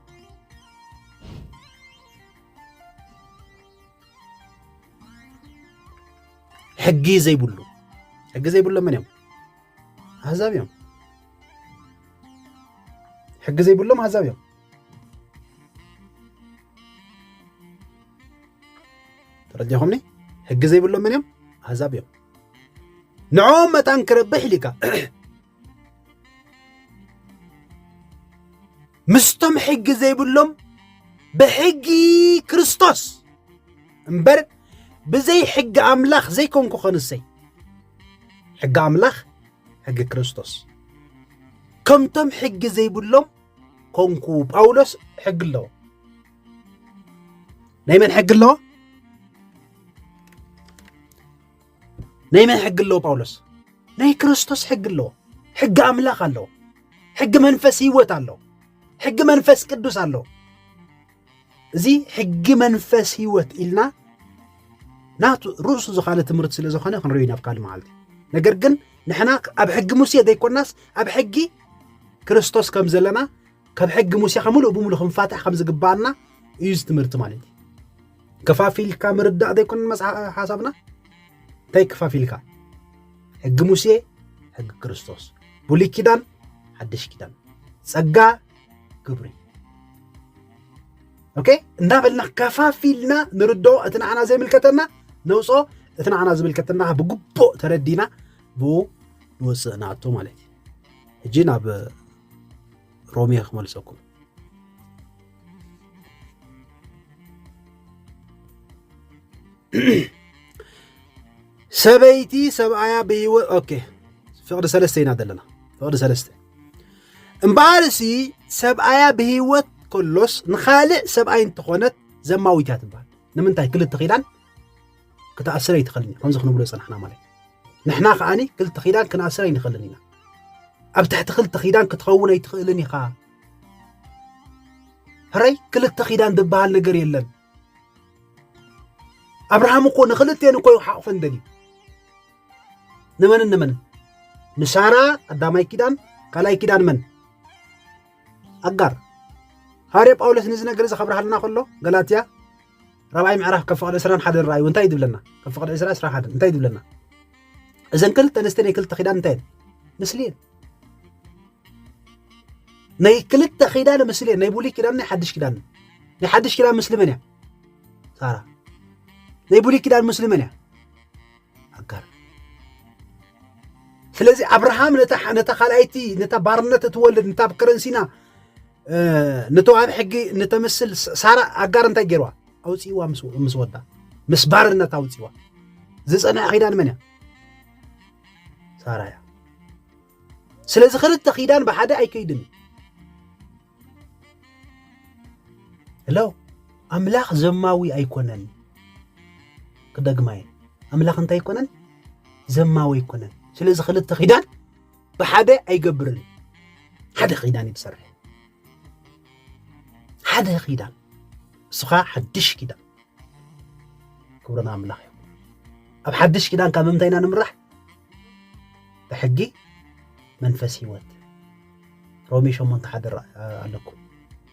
ሕጊ ዘይብሉ ሕጊ ዘይብሎም መን እዮም ኣህዛብ እዮም ሕጊ ዘይብሎም ኣህዛብ እዮም ተረዲኹምኒ ሕጊ ዘይብሎም መን እዮም ኣህዛብ እዮም ንዕኦም መታን ክረብሕ ኢልካ ምስቶም ሕጊ ዘይብሎም ብሕጊ ክርስቶስ እምበር ብዘይ ሕጊ ኣምላኽ ዘይኮንኩ ኸንሰይ ሕጊ ኣምላኽ ሕጊ ክርስቶስ ከምቶም ሕጊ ዘይብሎም ኮንኩ ጳውሎስ ሕጊ ኣለዎ ናይ መን ሕጊ ኣለዎ ናይ መን ሕጊ ኣለዎ ጳውሎስ? ናይ ክርስቶስ ሕጊ ኣለዎ። ሕጊ ኣምላኽ ኣለዎ። ሕጊ መንፈስ ህይወት ኣለዎ። ሕጊ መንፈስ ቅዱስ ኣለዎ። እዚ ሕጊ መንፈስ ህይወት ኢልና ናቱ ርእሱ ዝኻለ ትምህርቲ ስለ ዝኾነ ክንሪኦ ናብ ካልእ መዓልቲ ነገር ግን ንሕና ኣብ ሕጊ ሙሴ ዘይኮናስ ኣብ ሕጊ ክርስቶስ ከም ዘለና ካብ ሕጊ ሙሴኻ ምሉእ ብምሉእ ክንፋታሕ ከም ዝግባኣና እዩ እዚ ትምህርቲ ማለት እዩ ከፋፊልካ ምርዳእ ዘይኮነን መጽሓፍ ሓሳብና እንታይ ከፋፊልካ ሕጊ ሙሴ ሕጊ ክርስቶስ ብሉይ ኪዳን ሓድሽ ኪዳን ጸጋ ግብሪ ኦኬ እንዳበልና ከፋፊልና ንርዶ እቲ ንዓና ዘይምልከተና ነውፆ እቲ ንዓና ዝምልከተና ብግቡእ ተረዲና ብኡ ንወፅእ ንኣቶ ማለት እዩ ሕጂ ናብ ሮሜ ክመልሰኩም ሰበይቲ ሰብኣያ ብሂወት ኦኬ ፍቅዲ ሰለስተ ኢና ዘለና ፍቅዲ ሰለስተ እምበኣርሲ ሰብኣያ ብሂወት ከሎስ ንኻልእ ሰብኣይ እንተኾነት ዘማዊት እያ ትበሃል ንምንታይ ክልተ ኪዳን ክትኣስር ኣይትኽእልን እዩ ከምዚ ክንብሎ ዝፀናሕና ማለት ንሕና ከዓኒ ክልተ ኪዳን ክንኣስር ኣይንኽእልን ኢና ኣብ ትሕቲ ክልተ ኪዳን ክትኸውን ኣይትኽእልን ኢኻ ሕረይ ክልተ ኪዳን ዝበሃል ነገር የለን ኣብርሃም እኮ ንክልቴን እኮ ይሓቑፈን ደልዩ ንመንን ንመንን ንሳራ ቀዳማይ ኪዳን ካልኣይ ኪዳን መን ኣጋር ሃዋርያ ጳውሎስ ነዚ ነገር እዚ ከብርሃልና ከሎ ገላትያ ራብዓይ ምዕራፍ ካብ ፍቕዲ ዕስራን ሓደን ረኣዩ እንታይ ይድብለና ካብ ፍቕዲ ዕስራ ዕስራ ሓደን እንታይ ይድብለና እዘን ክልተ ኣንስተ ናይ ክልተ ኪዳን እንታይ እየን ምስሊ እየን ናይ ክልተ ኪዳን ምስሊ እየን ናይ ብሉይ ኪዳን ናይ ሓድሽ ኪዳን ናይ ሓድሽ ኪዳን ምስሊ መን እያ ሳራ ናይ ብሉይ ኪዳን ምስሊ መን እያ ኣጋር ስለዚ ኣብርሃም ነታ ካልኣይቲ ነታ ባርነት እትወልድ ነታ ኣብ ከረንሲና ንተዋህብ ሕጊ ንተምስል ሳራ ኣጋር እንታይ ገይርዋ ኣውፅእዋ ምስ ወዳ ምስ ባርነት ኣውፅእዋ ዝፀንዐ ኪዳን መን እያ ሳራ እያ ስለዚ ክልተ ኪዳን ብሓደ ኣይከይድን እዩ Hello ኣምላኽ ዘማዊ ኣይኮነን ክደግማየ ኣምላኽ እንታይ ኣይኮነን ዘማዊ ኣይኮነን ስለዚ ክልተ ኺዳን ብሓደ ኣይገብርን ሓደ ኺዳን እዩ ትሰርሕ ሓደ ኺዳን ንስኻ ሓድሽ ኪዳን ክብርን ኣምላኽ እዩ ኣብ ሓድሽ ኪዳን ካብ ምምንታይ ኢና ንምራሕ ብሕጊ መንፈስ ህይወት ሮሜ ሸሞንተ ሓደ ኣለኩ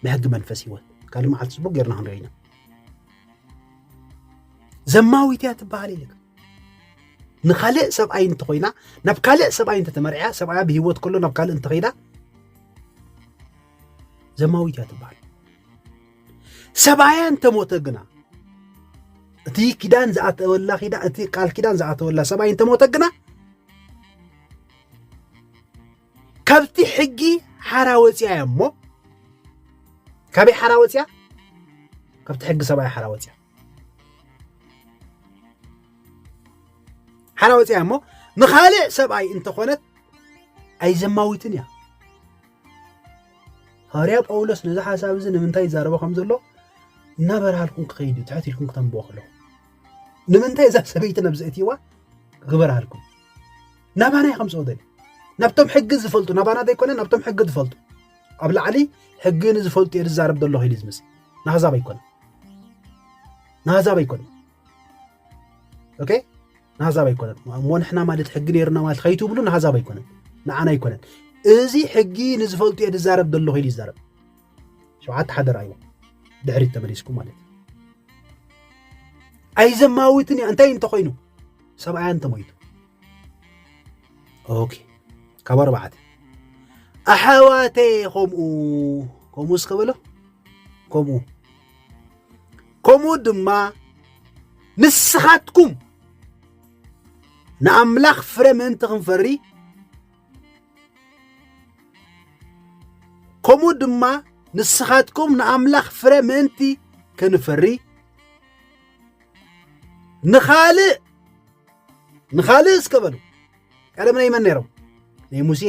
ብሕጊ መንፈስ ህይወት ካልእ መዓልቲ ፅቡቅ ጌርና ክንሪኦ ኢና ዘማዊት እያ ትበሃል ኢልካ ንካልእ ሰብኣይ እንተኮይና ናብ ካልእ ሰብኣይ እንተተመርዕያ ሰብኣያ ብሂወት ከሎ ናብ ካልእ እንተኸይዳ ዘማዊት እያ ትበሃል ሰብኣያ እንተሞተ ግና እቲ ኪዳን ዝኣተወላ እቲ ቃል ኪዳን ዝኣተወላ ሰብኣይ እንተሞተ ግና ካብቲ ሕጊ ሓራ ወፅያ እያ እሞ ካበይ ሓራ ወፅያ ካብቲ ሕጊ ሰብኣይ ሓራ ወፅያ ሓራ ወፅያ እሞ ንካልእ ሰብኣይ እንተኾነት ኣይዘማዊትን እያ ሃዋርያ ጳውሎስ ነዚ ሓሳብ እዚ ንምንታይ ይዛረቦ ከም ዘሎ እናበርሃልኩም ክኸይድ እዩ ትሕት ኢልኩም ክተንብቦ ከለኹ ንምንታይ እዛ ሰበይቲ ነብዚ እትዋ ክበርሃልኩም ናባና እዩ ከምፅኦ ደልዩ ናብቶም ሕጊ ዝፈልጡ ናባና ዘይኮነ ናብቶም ሕጊ ዝፈልጡ ኣብ ላዕሊ ሕጊ ንዝፈልጡ እየ ዝዛረብ ዘለኹ ኢሉ ዝመፅ ናህዛብ ኣይኮነ ናህዛብ ኣይኮነ ኦኬ ናህዛብ ኣይኮነን እሞ ንሕና ማለት ሕጊ ነይሩና ማለት ከይትብሉ ናህዛብ ኣይኮነን ንዓና ኣይኮነን እዚ ሕጊ ንዝፈልጡ እየ ዝዛረብ ዘለኹ ኢሉ ይዛረብ ሸውዓተ ሓደራ እዩ ድሕሪት ተመሊስኩም ማለት ኣይዘማዊትን እያ እንታይ እንተኮይኑ ሰብኣያ እንተሞይቱ ኦኬ ካብ ኣርባዕተ ኣሓዋተ ከምኡ ከምኡ እስከ በሎ ከምኡ ከምኡ ድማ ንስኻትኩም ንኣምላኽ ፍረ ምእንቲ ክንፈሪ ከምኡ ድማ ንስኻትኩም ንኣምላኽ ፍረ ምእንቲ ክንፈሪ ንኻልእ ንኻልእ እስከ በሉ ቀደም ናይ መን ነይሮም ናይ ሙሴ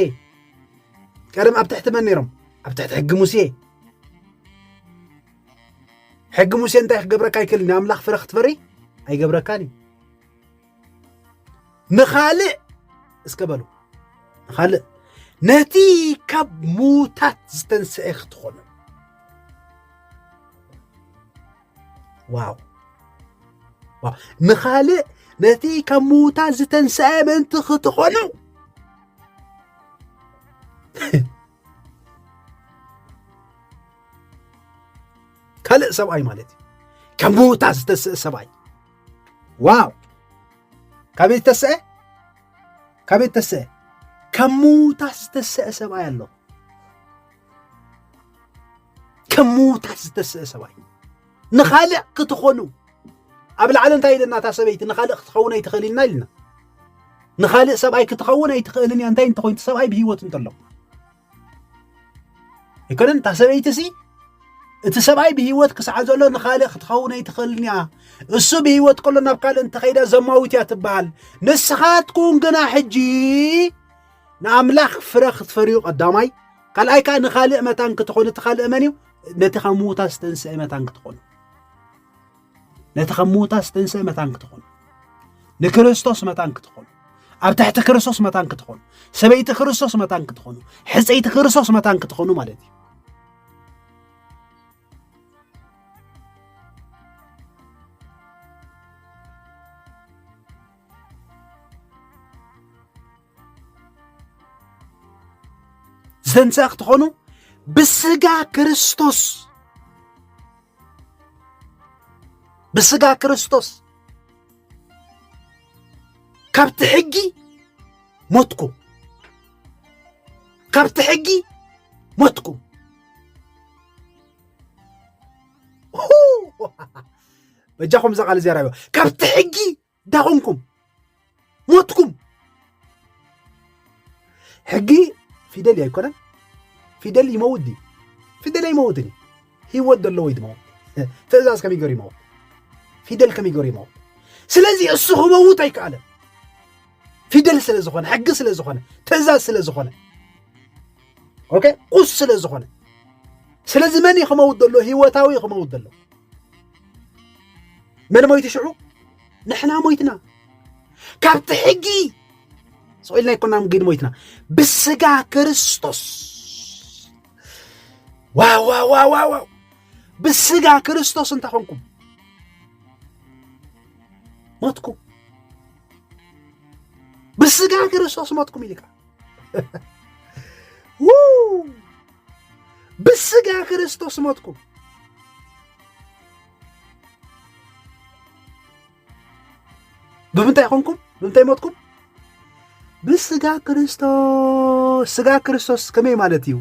ቀደም ኣብ ትሕቲ መን ነይሮም ኣብ ትሕቲ ሕጊ ሙሴ ሕጊ ሙሴ እንታይ ክገብረካ ይክእል ናይ ኣምላኽ ፍረ ክትፈሪ ኣይገብረካን እዩ ንኻልእ እስከ በሉ ንኻልእ ነቲ ካብ ሙታት ዝተንስአ ክትኾኑ ዋው ዋው ንኻልእ ነቲ ካብ ምዉታት ዝተንስአ ምእንቲ ክትኾኑ ካልእ ሰብኣይ ማለት እዩ ካብ ምዉታት ዝተስአ ሰብኣይ ዋው ካበይ ዝተስአ ካበይ ዝተስአ ካብ ምዉታት ዝተስአ ሰብኣይ ኣሎ ከም ምዉታት ዝተስእ ሰብኣይ ንኻልእ ክትኾኑ ኣብ ላዕሊ እንታይ ኢለና እታ ሰበይቲ ንኻልእ ክትኸውን ኣይትኽእል ኢልና ኢልና ንኻልእ ሰብኣይ ክትኸውን ኣይትኽእልን እያ እንታይ እንተኮይኑ ሰብኣይ ብሂወት እንተሎ ኣይኮነን እታ ሰበይቲ ሲ እቲ ሰብኣይ ብሂወት ክሳዕ ዘሎ ንኻልእ ክትኸውን ኣይትኽእልን እያ እሱ ብሂወት ከሎ ናብ ካልእ እንተኸይዳ ዘማዊት እያ ትበሃል ንስኻትኩም ግና ሕጂ ንኣምላኽ ፍረ ክትፈርዩ ቀዳማይ ካልኣይ ከዓ ንካልእ መታን ክትኾኑ እቲ ካልእ መን እዩ ነቲ ካብ ምዉታት ዝተንስአ መታን ክትኾኑ ነቲ ካብ ምዉታት ዝተንስአ መታን ክትኾኑ ንክርስቶስ መታን ክትኾኑ ኣብ ትሕቲ ክርስቶስ መታን ክትኾኑ ሰበይቲ ክርስቶስ መታን ክትኾኑ ሕፀይቲ ክርስቶስ መታን ክትኾኑ ማለት እዩ ዝተንስኣ ክትኾኑ ብስጋ ክርስቶስ ብስጋ ክርስቶስ ካብቲ ሕጊ ሞትኩም ካብቲ ሕጊ ሞትኩም በጃኹም እዛ ቃል እዚኣ ራእዮ ካብቲ ሕጊ እንታይ ኾንኩም ሞትኩም ሕጊ ፊደል እዩ ኣይኮነን ፊደል ይመውት ድዩ ፊደል ኣይመውትን እዩ ህይወት ዘለዎ እዩ ድመውት ትእዛዝ ከመይ ገሩ ይመውት ፊደል ከመይ ገሩ ይመውት ስለዚ እሱ ክመውት ኣይከኣለን ፊደል ስለ ዝኾነ ሕጊ ስለ ዝኾነ ትእዛዝ ስለ ዝኾነ ኦኬ ቁስ ስለ ዝኾነ ስለዚ መን እዩ ክመውት ዘሎ ህይወታዊ እዩ ክመውት ዘሎ መን ሞይቱ ሽዑ ንሕና ሞይትና ካብቲ ሕጊ ስኢልና ይኮና ግን ሞይትና ብስጋ ክርስቶስ ዋዋዋዋዋ ብስጋ ክርስቶስ እንተኾንኩም ሞትኩም ብስጋ ክርስቶስ ሞትኩም ኢልካ ብስጋ ክርስቶስ ሞትኩም ብምንታይ ኮንኩም ብምንታይ ሞትኩም ብስጋ ክርስቶስ ስጋ ክርስቶስ ከመይ ማለት እዩ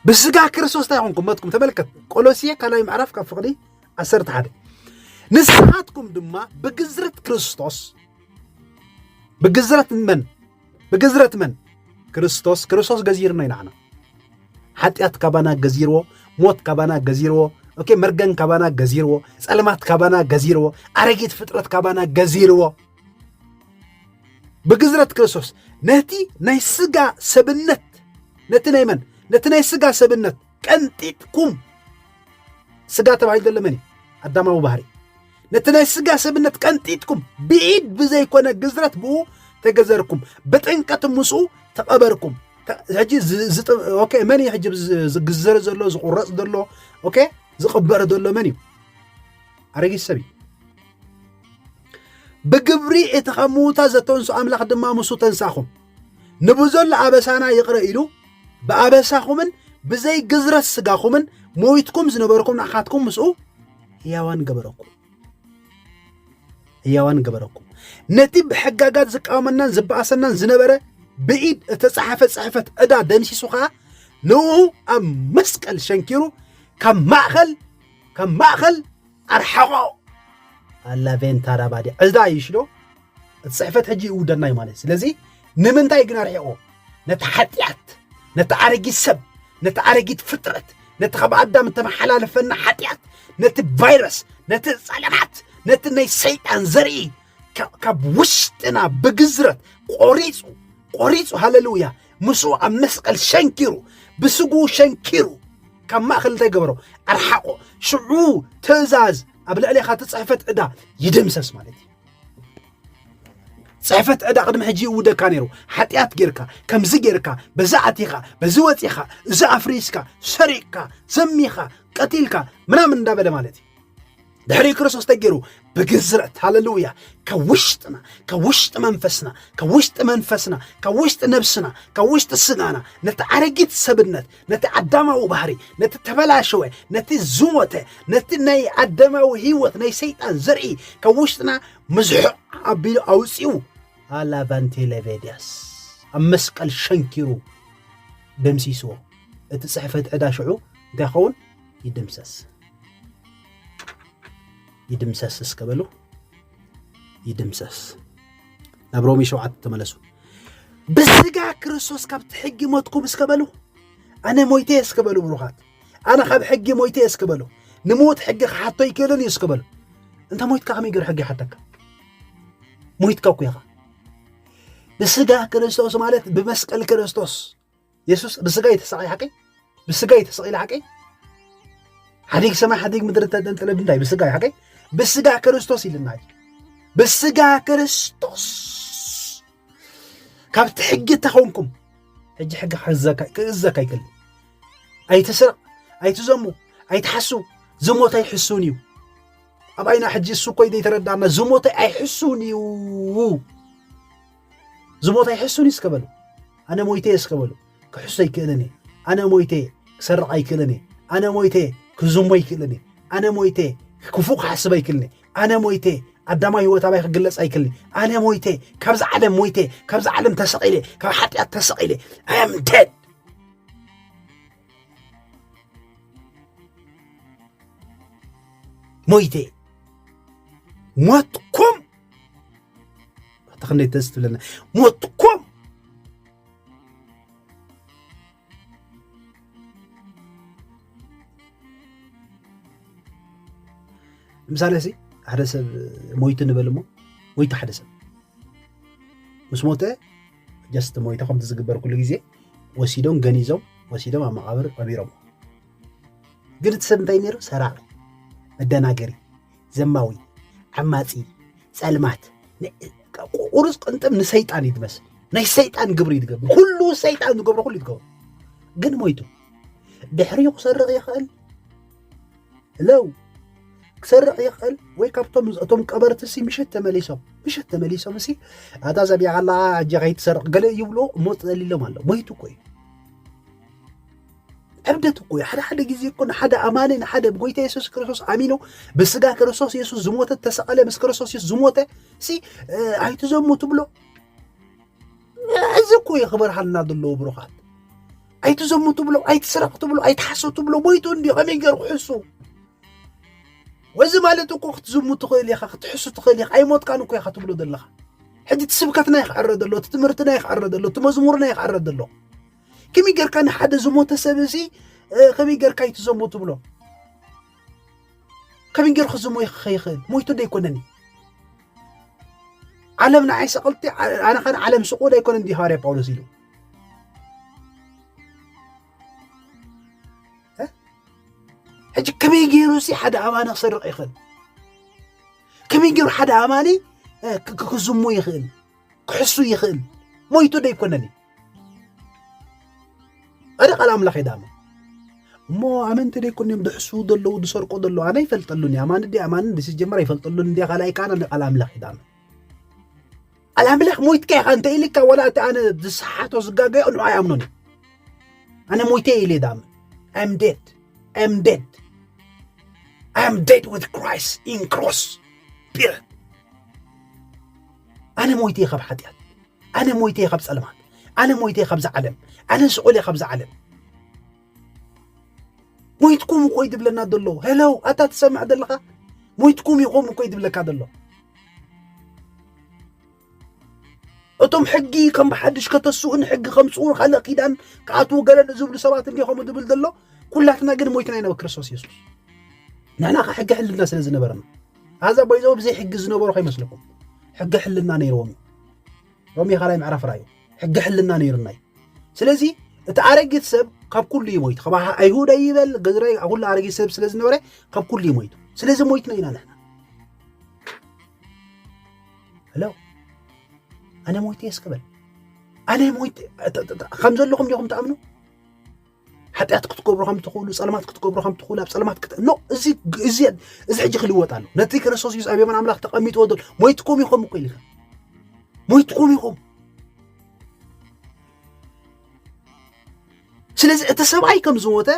ብስጋ ክርስቶስ እንታይ ኮንኩም ሞትኩም ተመልከት ቆሎሲየ ካልኣይ ምዕራፍ ካብ ፍቕዲ ዓሰርተ ሓደ ንስኻትኩም ድማ ብግዝረት ክርስቶስ ብግዝረት መን ብግዝረት መን ክርስቶስ ክርስቶስ ገዚርኖ ኢና ዓና ሓጢኣት ካባና ገዚርዎ ሞት ካባና ገዚርዎ ኦኬ መርገን ካባና ገዚርዎ ጸልማት ካባና ገዚርዎ ኣረጊት ፍጥረት ካባና ገዚርዎ ብግዝረት ክርስቶስ ነቲ ናይ ስጋ ሰብነት ነቲ ናይ መን ነቲ ናይ ስጋ ሰብነት ቀንጢጥኩም ስጋ ተባሂሉ ዘሎ መን እዩ ኣዳማዊ ባህሪ ነቲ ናይ ስጋ ሰብነት ቀንጢጥኩም ብኢድ ብዘይኮነ ግዝረት ብኡ ተገዘርኩም ብጥንቀት ምስኡ ተቐበርኩም ሕጂ ኦኬ መን እዩ ሕጂ ዝግዘር ዘሎ ዝቁረፅ ዘሎ ኦኬ ዝቕበር ዘሎ መን እዩ ኣረጊት ሰብ እዩ ብግብሪ እቲ ካብ ምዉታ ዘተንሱ ኣምላኽ ድማ ምሱ ተንሳኹም ንብዘሎ ኣበሳና ይቕረ ኢሉ ብኣበሳኹምን ብዘይ ግዝረት ስጋኹምን ሞይትኩም ዝነበርኩም ንኣኻትኩም ምስኡ ህያዋን ገበረኩም ህያዋን ገበረኩም ነቲ ብሕጋጋት ዝቃወመናን ዝበኣሰናን ዝነበረ ብኢድ እተጸሓፈ ጽሕፈት ዕዳ ደምሲሱ ኸዓ ንኡ ኣብ መስቀል ሸንኪሩ ካብ ማእኸል ካብ ማእኸል ኣርሓቖ ኣላቬንታራባዲ ዕዳ ይሽዶ እቲ ጽሕፈት ሕጂ ይውደና እዩ ማለት ስለዚ ንምንታይ ግን ኣርሒቆ ነቲ ሓጢኣት ነቲ ኣረጊት ሰብ ነቲ ኣረጊት ፍጥረት ነቲ ካብ ኣዳም እተመሓላለፈና ሓጢኣት ነቲ ቫይረስ ነቲ ጸለማት ነቲ ናይ ሰይጣን ዘርኢ ካብ ውሽጥና ብግዝረት ቆሪጹ ቆሪጹ ሃለሉያ ምስኡ ኣብ መስቀል ሸንኪሩ ብስጉ ሸንኪሩ ካብ ማእኸል እንታይ ገበሮ ኣርሓቆ ሽዑ ትእዛዝ ኣብ ልዕሌኻ ትፅሕፈት ዕዳ ይድምሰስ ማለት እዩ ፅሕፈት ዕዳ ቅድሚ ሕጂ ይእውደካ ነይሩ ሓጢኣት ጌርካ ከምዚ ጌርካ በዚ ኣቲኻ በዚ ወፂኻ እዚ ኣፍሪስካ ሰሪቕካ ዘሚኻ ቀቲልካ ምናምን እንዳበለ ማለት እዩ ድሕሪ ክርስቶስ ተገይሩ ብግዝረት ሃለሉያ ካብ ውሽጥና ካብ ውሽጢ መንፈስና ካብ ውሽጢ መንፈስና ካብ ውሽጢ ነብስና ካብ ውሽጢ ስጋና ነቲ ኣረጊት ሰብነት ነቲ ኣዳማዊ ባህሪ ነቲ ተበላሸወ ነቲ ዝሞተ ነቲ ናይ ኣዳማዊ ህይወት ናይ ሰይጣን ዘርኢ ካብ ውሽጥና ምዝሑቕ ኣቢሉ ኣውፅኡ ኣላቫንቲ ሌቬድያስ ኣብ መስቀል ሸንኪሩ ደምሲስዎ እቲ ፅሕፈት ዕዳ ሽዑ እንታይ ይኸውን ይድምሰስ ይድምሰስ እስከ በሉ ይድምሰስ። ናብ ሮሜ ሸውዓተ ተመለሱ። ብስጋ ክርስቶስ ካብቲ ሕጊ ሞትኩም እስከ በሉ ኣነ ሞይተ እስከ በሉ ብሩኻት ኣነ ካብ ሕጊ ሞይተ እስከ በሉ ንሞት ሕጊ ክሓቶ ይክእልን እዩ እስከ በሉ እንተ ሞይትካ ከመይ ገር ሕጊ ይሓተካ ሞይትካ እኮ ኢኻ ብስጋ ክርስቶስ ማለት ብመስቀል ክርስቶስ የሱስ ብስጋ እዩ ተሰቃይ ሓቀይ ብስጋ እዩ ተሰቂለ ሓቀይ ሓዲግ ሰማይ ሓዲግ ምድሪ ተጠንጠለ ድንዳይ ብስጋ እዩ ሓቀይ ብስጋ ክርስቶስ ኢልና ብስጋ ክርስቶስ ካብቲ ሕጊ ተኾንኩም ሕጂ ሕጊ ክእዘካ ይክእል ኣይትስረቕ ኣይትዘሙ ኣይትሓሱ ዝሞት ኣይሕሱን እዩ ኣብ ኣይና ሕጂ እሱ እኮ ዘይተረዳእና ዝሞት ኣይሕሱን እዩ እዚ ቦታ ይሕሱኒ እስከ በሉ ኣነ ሞይተየ እስከ በሉ ክሕሱ ኣይክእልን እየ ኣነ ሞይተየ ክሰርቕ ኣይክእልን እየ ኣነ ሞይተየ ክዝሞ ኣይክእልን እየ ኣነ ሞይተየ ክፉእ ክሓስብ ኣይክእልን እየ ኣነ ሞይተየ ኣዳማዊ ህይወት ኣባይ ክግለጽ ኣይክእልን ኣነ ሞይተ ካብዚ ዓለም ሞይተ ካብዚ ዓለም ተሰቒለ ካብ ሓጢኣት ተሰቒለ ኣም ደድ ሞይተ ሞትኩም ኣታ ክንደይ ደስ ትብለና ሞትኩም ምሳሌ ሲ ሓደ ሰብ ሞይቱ ንበል እሞ ሞይቱ ሓደ ሰብ ምስ ሞተ ጀስት ሞይተ ከምቲ ዝግበር ኩሉ ግዜ ወሲዶም ገኒዞም ወሲዶም ኣብ መቃብር ቀቢሮም ግን እቲ ሰብ እንታይ ነይሩ ሰራቂ መደናገሪ ዘማዊ ዓማጺ ጸልማት ቁሩጽ ቅንጥብ ንሰይጣን እዩ ዝመስል ናይ ሰይጣን ግብሪ እዩ ዝገብር ኩሉ ሰይጣን ዝገብሮ ኩሉ እዩ ዝገብር ግን ሞይቱ ድሕሪኡ ክሰርቕ ይኽእል ለው ክሰርቕ ይኽእል ወይ ካብቶም እቶም ቀበርቲ ሲ ምሸት ተመሊሶም ምሸት ተመሊሶም እሲ ኣታ ዘቢያ ኣላ ኣጀ ከይትሰርቕ ገለ ይብሉ እሞ ትዘሊሎም ኣሎ ሞይቱ እኮ እዩ እብደት እኮ እዩ። ሓደ ሓደ ግዜ እኮ ንሓደ ኣማኒ ንሓደ ብጎይታ የሱስ ክርስቶስ ኣሚኑ ብስጋ ክርስቶስ የሱስ ዝሞተ ተሰቐለ ምስ ክርስቶስ የሱስ ዝሞተ ሲ ኣይትዘሙ ትብሎ እዚ እኮ እዩ ክበርሃልና ዘለዎ ብሩኻት። ኣይትዘሙ ትብሎ፣ ኣይትስረቕ ትብሎ፣ ኣይትሓሱ ትብሎ ሞይቱ እንዲዩ ከመይ ገይሩ ክሕሱ ወዚ ማለት እኮ ክትዝሙ ትኽእል ኢኻ ክትሕሱ ትኽእል ኢኻ ኣይሞትካን እኮ ኢኻ ትብሎ ዘለኻ ሕጂ እቲ ስብከትና ይክዕረ ዘሎ እቲ ትምህርትና ይክዕረ ዘሎ እቲ መዝሙርና ይክዕረ ዘሎ ከመይ ጌርካ ንሓደ ዝሞተ ሰብ እዚ ከመይ ጌርካ እዩ ትዘሙ ትብሎ ከመይ ጌሩ ክዝሞ ይኽእል ሞይቱ ዶ ኣይኮነን እዩ ዓለም ንዓይ ሰቐልቲ ኣነ ኸን ዓለም ስቑል ኣይኮነን ዲ ሃዋርያ ጳውሎስ ኢሉ ሕጂ ከመይ ገይሩ ሲ ሓደ ኣማኒ ክሰርቕ ይኽእል ከመይ ገይሩ ሓደ ኣማኒ ክዝሙ ይኽእል ክሕሱ ይኽእል ሞይቱ ደይኮነን እዩ ኣደ ቃል ኣምላኽ የዳመ እሞ ኣመንቲ ደይኮን እዮም ድሕሱ ዘለዉ ዝሰርቁ ዘለዉ ኣነ ይፈልጠሉን እዩ ኣማን ዲ ኣማን ዲ ስጀመር ይፈልጠሉን እንዲ ካልኣይ ካን ኣነ ቃል ኣምላኽ የዳመ ቃል ኣምላኽ ሞይትካ ኢኻ እንተ ኢልካ ወላ እቲ ኣነ ዝሰሓቶ ዝጋገዮ ንዑ ኣይኣምኖን እዩ ኣነ ሞይተ ኢለ ዳመ ኣም ዴድ ኣም ዴድ ኣም ዴድ ዊት ክራይስት ኢን ክሮስ ፒሪድ ኣነ ሞይተ እየ ካብ ሓጢኣት ኣነ ሞይተ እየ ካብ ጸልማት ኣነ ሞይተ እየ ካብዛ ዓለም ኣነ ስቑል እየ ካብዛ ዓለም ሞይትኩም እኮ እዩ ዝብለና ዘሎ ሄለው ኣታ ትሰምዕ ዘለኻ ሞይትኩም ኢኹም እኮ እዩ ዝብለካ ዘሎ እቶም ሕጊ ከም ብሓድሽ ከተስኡን ሕጊ ከምፅኡ ካልእ ኪዳን ክኣትዉ ገለ ንዝብሉ ሰባት እንዲ ከምኡ ዝብል ዘሎ ኩላትና ግን ሞይትና ኢና ክርስቶስ የሱስ ንሕና ከ ሕጊ ሕልና ስለ ዝነበረና ኣዛ ባይዘው ብዘይ ሕጊ ዝነበሩ ከይመስለኩም ሕጊ ሕልና ነይርዎም እዩ ሮሜ ካልኣይ ምዕራፍ ራዩ ሕጊ ሕልና ነይሩና እዩ ስለዚ እቲ ኣረጊት ሰብ ካብ ኩሉ እዩ ሞይቱ ካብ ኣይሁድ ኣይበል ገዝራይ ኩሉ ኣረጊት ሰብ ስለ ዝነበረ ካብ ኩሉ እዩ ሞይቱ ስለዚ ሞይትና ኢና ንሕና ሄሎ ኣነ ሞይተ የስክበል ኣነ ሞይተ ከም ዘለኹም ዲኹም ትኣምኑ ሓጢኣት ክትገብሩ ከም ትኽእሉ ጸልማት ክትገብሩ ከም ትኽእሉ ኣብ ጸልማት ክት ኖ እዚ እዚ እዚ ሕጂ ክልወጥ ኣሎ ነቲ ክርስቶስ ኢየሱስ ኣብ የማን ኣምላኽ ተቐሚጥዎ ዘሎ ሞይትኩም ኢኹም እኮ ኢልካ ሞይትኩም ኢኹም ስለዚ እቲ ሰብኣይ ከም ዝሞተ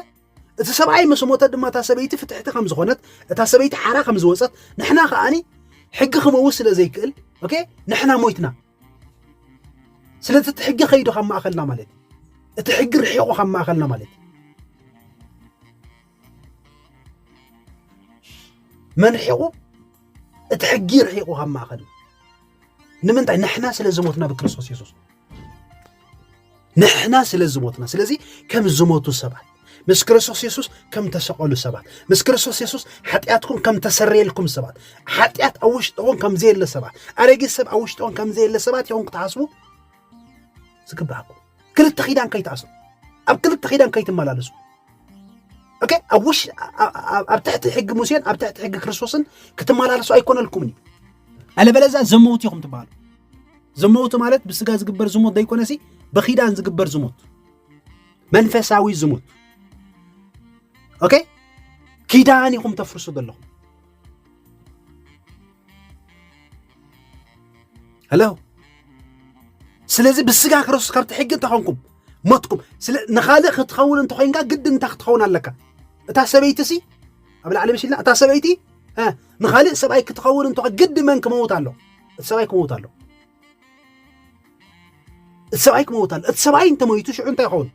እቲ ሰብኣይ ምስ ሞተ ድማ እታ ሰበይቲ ፍትሕቲ ከም ዝኾነት እታ ሰበይቲ ሓራ ከም ዝወፀት ንሕና ከዓኒ ሕጊ ክመውት ስለ ዘይክእል ኦኬ ንሕና ሞይትና ስለዚ እቲ ሕጊ ከይዱ ካብ ማእኸልና ማለት እዩ እቲ ሕጊ ርሒቑ ካብ ማእኸልና ማለት እዩ መን ርሒቑ እቲ ሕጊ ርሒቑ ካብ ማእኸልና ንምንታይ ንሕና ስለ ዝሞትና ብክርስቶስ የሱስ ንሕና ስለ ዝሞትና ስለዚ ከም ዝሞቱ ሰባት ምስ ክርስቶስ የሱስ ከም ተሰቐሉ ሰባት ምስ ክርስቶስ የሱስ ሓጢኣትኩም ከም ተሰረየልኩም ሰባት ሓጢኣት ኣብ ውሽጥኹም ከም ዘየለ ሰባት ኣረጊት ሰብ ኣብ ውሽጥኹም ከም ዘየለ ሰባት ይኹም ክትሓስቡ ዝግባኣኩም ክልተ ኪዳን ከይትኣስሩ ኣብ ክልተ ኪዳን ከይትመላለሱ ኦኬ ኣብ ውሽ ኣብ ትሕቲ ሕጊ ሙሴን ኣብ ትሕቲ ሕጊ ክርስቶስን ክትመላለሱ ኣይኮነልኩምን እዩ ኣለበለዛ ዘመውት ኢኹም ትበሃሉ ዝሞት ማለት ብስጋ ዝግበር ዝሞት ዘይኮነሲ ብኪዳን ዝግበር ዝሞት መንፈሳዊ ዝሞት ኦኬ ኪዳን ኢኹም ተፍርሱ ዘለኹም ሄሎ ስለዚ ብስጋ ክርስቶስ ካብቲ ሕጊ እንተኾንኩም ሞትኩም ንኻልእ ክትኸውን እንተኮይንካ ግድን እንታይ ክትኸውን ኣለካ እታ ሰበይቲ ሲ ኣብ ላዕሊ ምሽልና እታ ሰበይቲ ንኻልእ ሰብኣይ ክትኸውን እንተ ግዲ መን ክመውት ኣሎ እቲ ሰብኣይ ክመውት ኣሎ እቲ ሰብኣይ ክመውት ኣሎ እቲ ሰብኣይ እንተመይቱ ሽዑ እንታይ ይኸውን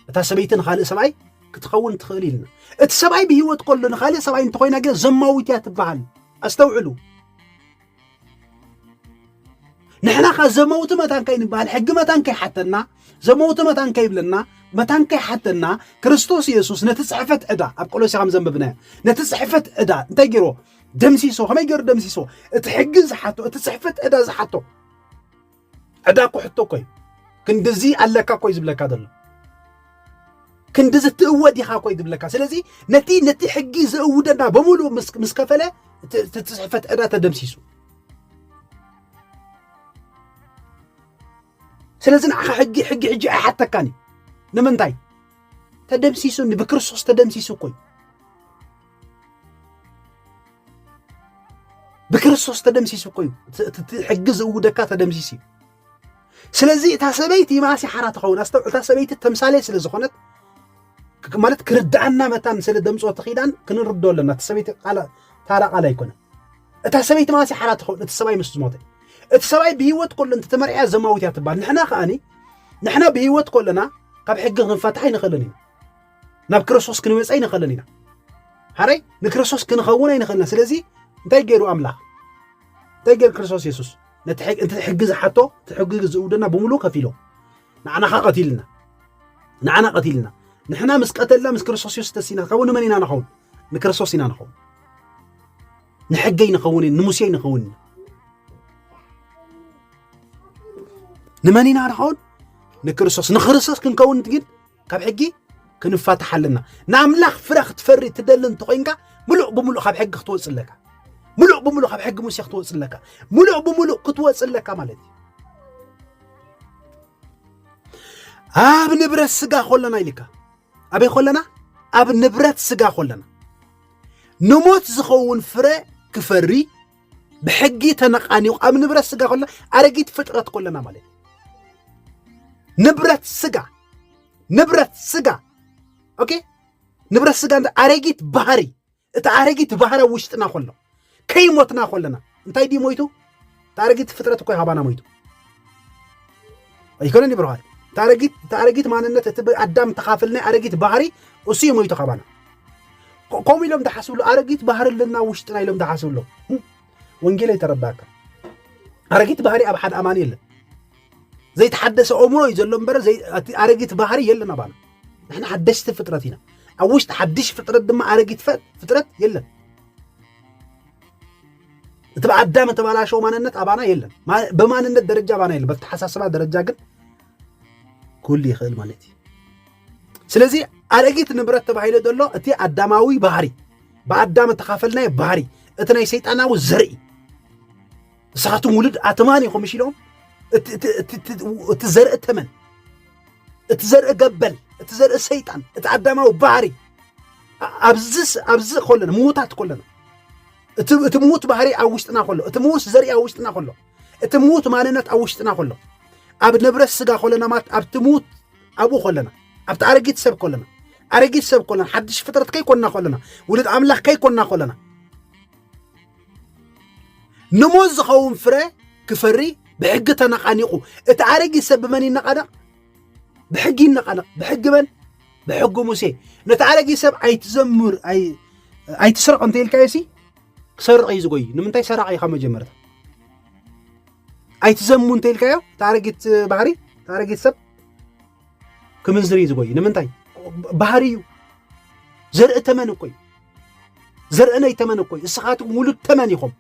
እታ ሰበይቲ ንካልእ ሰብኣይ ክትኸውን ትኽእል ኢልና እቲ ሰብኣይ ብሂወት ከሎ ንካልእ ሰብኣይ እንተኮይና ግን ዘማዊት እያ ትበሃል ኣስተውዕሉ ንሕና ከ ዘመውቲ መታን ከይንበሃል ሕጊ መታን ከይሓተና ዘመውቲ መታን ከይብለና መታን ከይሓተና ክርስቶስ የሱስ ነቲ ፅሕፈት ዕዳ ኣብ ቆሎሲ ከም ዘንብብናዮ ነቲ ፅሕፈት ዕዳ እንታይ ገይርዎ ደምሲሶ ከመይ ገይሩ ደምሲሶ እቲ ሕጊ ዝሓቶ እቲ ፅሕፈት ዕዳ ዝሓቶ ዕዳ እኮ ሕቶ እኮ እዩ ክንድዚ ኣለካ እኮ እዩ ዝብለካ ዘሎ ክንድዚ ትእወድ ኢኻ እኮ እዩ ዝብለካ ስለዚ ነቲ ነቲ ሕጊ ዘእውደና በሙሉእ ምስ ከፈለ እቲ ፅሕፈት ዕዳ ተደምሲሱ ስለዚ ንዓኻ ሕጊ ሕጊ ሕጂ ኣይሓተካን እዩ ንምንታይ ተደምሲሱኒ ብክርስቶስ ተደምሲሱ እኮ እዩ ብክርስቶስ ተደምሲሱ እኮ እዩ እቲ ሕጊ ዝእውደካ ተደምሲሱ እዩ ስለዚ እታ ሰበይቲ ይማእሲ ሓራ ትኸውን ኣስተውዕ እታ ሰበይቲ ተምሳሌ ስለ ዝኾነት ማለት ክርድኣና መታን ስለ ደምፆ ትኺዳን ክንርዶ ኣለና እቲ ሰበይቲ ታራ ቃል ኣይኮነ እታ ሰበይቲ ማእሲ ሓራ ትኸውን እቲ ሰብኣይ ምስ ዝሞተ እቲ ሰብኣይ ብሂወት ኮሎ እንተ ተመርዕያ ዘማዊት እያ ትበሃል ንሕና ከዓኒ ንሕና ብሂወት ኮለና ካብ ሕጊ ክንፈትሓ ኣይንኽእልን እዩ ናብ ክርስቶስ ክንመፀ ኣይንኽእልን ኢና ሓረይ ንክርስቶስ ክንኸውን ኣይንኽእልና ስለዚ እንታይ ገይሩ ኣምላኽ እንታይ ገይሩ ክርስቶስ የሱስ ነቲ ሕጊ ዝሓቶ እቲ ሕጊ ዝእውደና ብምሉእ ከፊሎ ንዓናኻ ቀቲልና ንዓና ቀቲልና ንሕና ምስ ቀተልና ምስ ክርስቶስ የሱስ ተሲና ከውን ንመን ኢና ንኸውን ንክርስቶስ ኢና ንኸውን ንሕገይ ንኸውን ንሙሴይ ንኸውን ንመን ኢና ንኸውን ንክርስቶስ ንክርስቶስ ክንከውን ግን ካብ ሕጊ ክንፋታሕ ኣለና ንኣምላኽ ፍረ ክትፈሪ ትደሊ እንተኾይንካ ምሉእ ብምሉእ ካብ ሕጊ ክትወፅ ኣለካ ምሉእ ብምሉእ ካብ ሕጊ ሙሴ ክትወፅ ኣለካ ምሉእ ብምሉእ ክትወፅ ኣለካ ማለት እዩ ኣብ ንብረት ስጋ ኮለና ኢልካ ኣበይ ኮለና ኣብ ንብረት ስጋ ኮለና ንሞት ዝኸውን ፍረ ክፈሪ ብሕጊ ተነቃኒቑ ኣብ ንብረት ስጋ ከሎ ኣረጊት ፍጥረት ኮለና ማለት ንብረት ስጋ ንብረት ስጋ ኦኬ ንብረት ስጋ ኣረጊት ባህሪ እቲ ኣረጊት ባህሪ ኣብ ውሽጥና ከሎ ከይሞትና ኮለና እንታይ ድዩ ሞይቱ እቲ ኣረጊት ፍጥረት እኮ ሃባና ሞይቱ ኣይኮነን እዩ ብርሃን ታረጊት ታረጊት ማንነት እቲ ኣዳም ተኻፍል ናይ ኣረጊት ባህሪ እሱ እዩ ሞይቱ ካባና ከምኡ ኢሎም ዝሓስብሉ ኣረጊት ባህሪ ኣለና ውሽጥና ኢሎም ዝሓስብሉ ወንጌል የተረዳካ ኣረጊት ባህሪ ኣብ ሓደ ኣማኒ የለን ዘይተሓደሰ እምሮ እዩ ዘሎ እምበር እቲ ኣረጊት ባህሪ የለን ኣባና ንሕና ሓደሽቲ ፍጥረት ኢና ኣብ ውሽጢ ሓድሽ ፍጥረት ድማ ኣረጊት ፍጥረት የለን እቲ ብኣዳም እተባላሸው ማንነት ኣባና የለን ብማንነት ደረጃ ኣባና የለን በተሓሳስባ ደረጃ ግን ኩሉ ይኽእል ማለት እዩ ስለዚ ኣረጊት ንብረት ተባሂሉ ዘሎ እቲ ኣዳማዊ ባህሪ ብኣዳም እተኻፈልናዮ ባህሪ እቲ ናይ ሰይጣናዊ ዘርኢ ንስኻትኩም ውሉድ ኣትማን ኢኹም እሽ ኢሎም እቲ ዘርኢ ተመን እቲ ዘርኢ ገበል እቲ ዘርኢ ሰይጣን እቲ ኣዳማዊ ባህሪ ኣብዚ ኣብዚ ኮለና ምዉታት ኮለና እቲ እቲ ምዉት ባህሪ ኣብ ውሽጥና ከሎ እቲ ምዉስ ዘርኢ ኣብ ውሽጥና ከሎ እቲ ምዉት ማንነት ኣብ ውሽጥና ከሎ ኣብ ንብረት ስጋ ከለና ማለት ኣብቲ ምዉት ኣብኡ ከለና ኣብቲ ኣረጊት ሰብ ከለና ኣረጊት ሰብ ከለና ሓድሽ ፍጥረት ከይኮንና ከለና ውሉድ ኣምላኽ ከይኮንና ከለና ንሞት ዝኸውን ፍረ ክፈሪ ብሕጊ ተነቓኒቑ እቲ ኣረጊት ሰብ ብመን ይነቓነቕ ብሕጊ ይነቓነቕ ብሕጊ መን ብሕጊ ሙሴ ነቲ ኣረጊ ሰብ ኣይትዘምር ኣይትስረቕ እንተ ኢልካዮ ሲ ክሰርቕ እዩ ዝጎይ ንምንታይ ሰራቂ ኢኻ መጀመርታ ኣይትዘሙ እንተ ኢልካዮ እቲ ኣረጊት ባህሪ እቲ ኣረጊት ሰብ ክምንዝር እዩ ዝጎይ ንምንታይ ባህሪ እዩ ዘርኢ ተመን እኮ እዩ ዘርኢ ናይ ተመን እኮ እዩ እስኻትኩም ውሉድ ተመን ኢኹም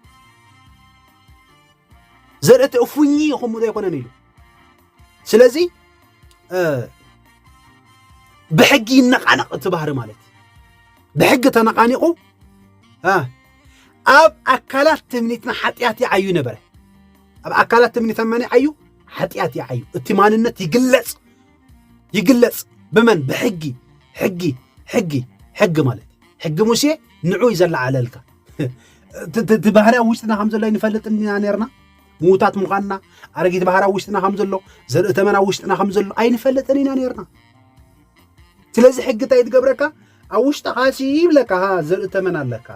ዘርእቲ እፉኚ ኢኹም ዶ ኣይኮነን ኢሉ ስለዚ ብሕጊ ይነቃነቕ እቲ ባህሪ ማለት ብሕጊ ተነቃኒቑ ኣብ ኣካላት ትምኒትና ሓጢኣት ይዓዩ ነበረ ኣብ ኣካላት ትምኒት መን ይዓዩ ሓጢኣት ይዓዩ እቲ ማንነት ይግለጽ ይግለጽ ብመን ብሕጊ ሕጊ ሕጊ ሕጊ ማለት ሕጊ ሙሴ ንዑ እዩ ዘለዓለልካ እቲ ባህርያ ውሽጥና ከም ዘሎ ይንፈልጥ ኢና ነርና ምዉታት ምዃንና ኣረጊት ባህሪ ኣብ ውሽጥና ከም ዘሎ ዘርኢ ተመን ኣብ ውሽጥና ከም ዘሎ ኣይንፈልጥን ኢና ነርና ስለዚ ሕጊ እንታይ ትገብረካ ኣብ ውሽጥኻ ሲ ይብለካ ሃ ዘርኢ ተመን ኣለካ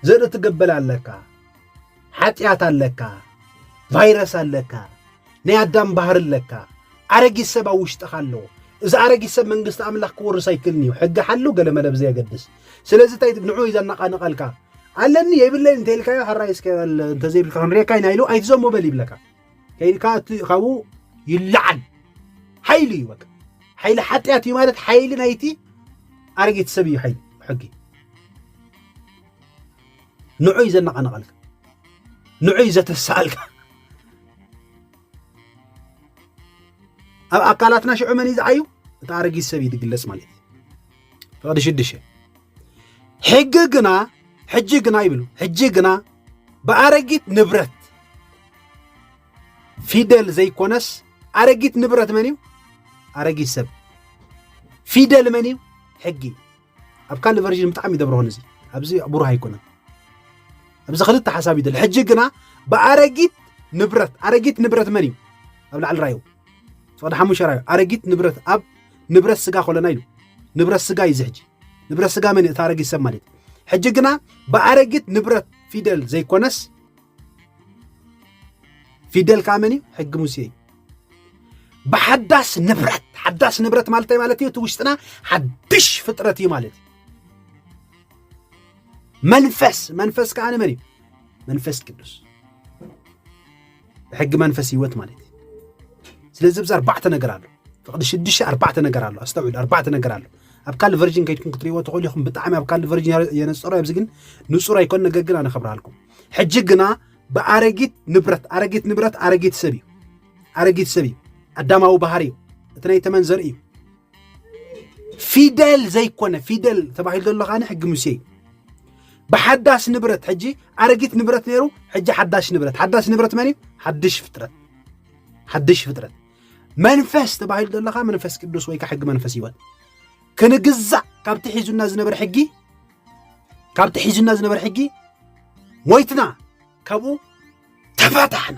ዘርኢ ትገበል ኣለካ ሓጢኣት ኣለካ ቫይረስ ኣለካ ናይ ኣዳም ባህሪ ኣለካ ኣረጊት ሰብ ኣብ ውሽጥኻ ኣለዎ እዚ ኣረጊት ሰብ መንግስቲ ኣምላኽ ክወርስ ኣይክእልን እዩ ሕጊ ሓሉ ገለመለ ብዘየገድስ ስለዚ እንታይ ንዑ እዩ ዘነቓንቐልካ ኣለኒ የብለይ እንተልካዮ ሕራይ እስከ እንተዘይብልካ ክንሪኤካ ኢና ኢሉ ኣይትዘሞ በል ይብለካ ከይድካ እቲ ካብኡ ይለዓል ሓይሊ እዩ በቃ ሓይሊ ሓጢኣት እዩ ማለት ሓይሊ ናይቲ ኣረጊት ሰብ እዩ ሓይሊ ሕጊ ንዑ እዩ ዘነቓንቐልካ ንዑ እዩ ዘተስኣልካ ኣብ ኣካላትና ሽዑ መን እዩ ዝዓዩ እቲ ኣረጊት ሰብ እዩ ዝግለጽ ማለት እዩ ፍቕዲ ሽድሽተ ሕጊ ግና ሕጂ ግና ይብሉ ሕጂ ግና ብኣረጊት ንብረት ፊደል ዘይኮነስ ኣረጊት ንብረት መን እዩ ኣረጊት ሰብ ፊደል መን እዩ ሕጊ ኣብ ካልእ ቨርዥን ብጣዕሚ ይደብረሆን እዚ ኣብዚ ብሩህ ኣይኮነን ኣብዚ ክልተ ሓሳብ ይደል ሕጂ ግና ብኣረጊት ንብረት ኣረጊት ንብረት መን እዩ ኣብ ላዕሊ ራዩ ፍቕዲ ሓሙሽተ ራዩ ኣረጊት ንብረት ኣብ ንብረት ስጋ ኮለና ኢሉ ንብረት ስጋ እዩ ዝሕጂ ንብረት ስጋ መን እቲ ኣረጊት ሰብ ማለት ሕጂ ግና ብኣረጊት ንብረት ፊደል ዘይኮነስ ፊደል ከዓ መን እዩ ሕጊ ሙሴ እዩ ብሓዳስ ንብረት ሓዳስ ንብረት ማለት ማለት እዩ እቲ ውሽጥና ሓድሽ ፍጥረት እዩ ማለት እዩ መንፈስ መንፈስ ከዓ ንመን እዩ መንፈስ ቅዱስ ብሕጊ መንፈስ ህይወት ማለት እዩ ስለዚ ብዛ ኣርባዕተ ነገር ኣሎ ፍቕዲ ሽዱሽተ ኣርባዕተ ነገር ኣሎ ኣስተውዕሉ ኣርባዕተ ነገር ኣሎ ኣብ ካል ቨርጅን ከይድኩም ክትሪእዎ ትኽእሉ ኢኹም ብጣዕሚ ኣብ ካል ቨርጅን የነፀሮ ኣብዚ ግን ንፁር ኣይኮን ነገር ግን ኣነ ከብርሃልኩም ሕጂ ግና ብኣረጊት ንብረት ኣረጊት ንብረት ኣረጊት ሰብ እዩ ኣረጊት ሰብ እዩ ኣዳማዊ ባህሪ እዩ እቲ ናይ ተመን ዘርኢ እዩ ፊደል ዘይኮነ ፊደል ተባሂሉ ዘሎ ካነ ሕጊ ሙሴ እዩ ብሓዳስ ንብረት ሕጂ ኣረጊት ንብረት ነይሩ ሕጂ ሓዳሽ ንብረት ሓዳሽ ንብረት መን እዩ ሓድሽ ፍጥረት ሓድሽ ፍጥረት መንፈስ ተባሂሉ ዘለካ መንፈስ ቅዱስ ወይ ከዓ ሕጊ መንፈስ ህይወት ክንግዛእ ካብቲ ሒዙና ዝነበረ ሕጊ ካብቲ ሒዙና ዝነበረ ሕጊ ሞይትና ካብኡ ተፋታሕና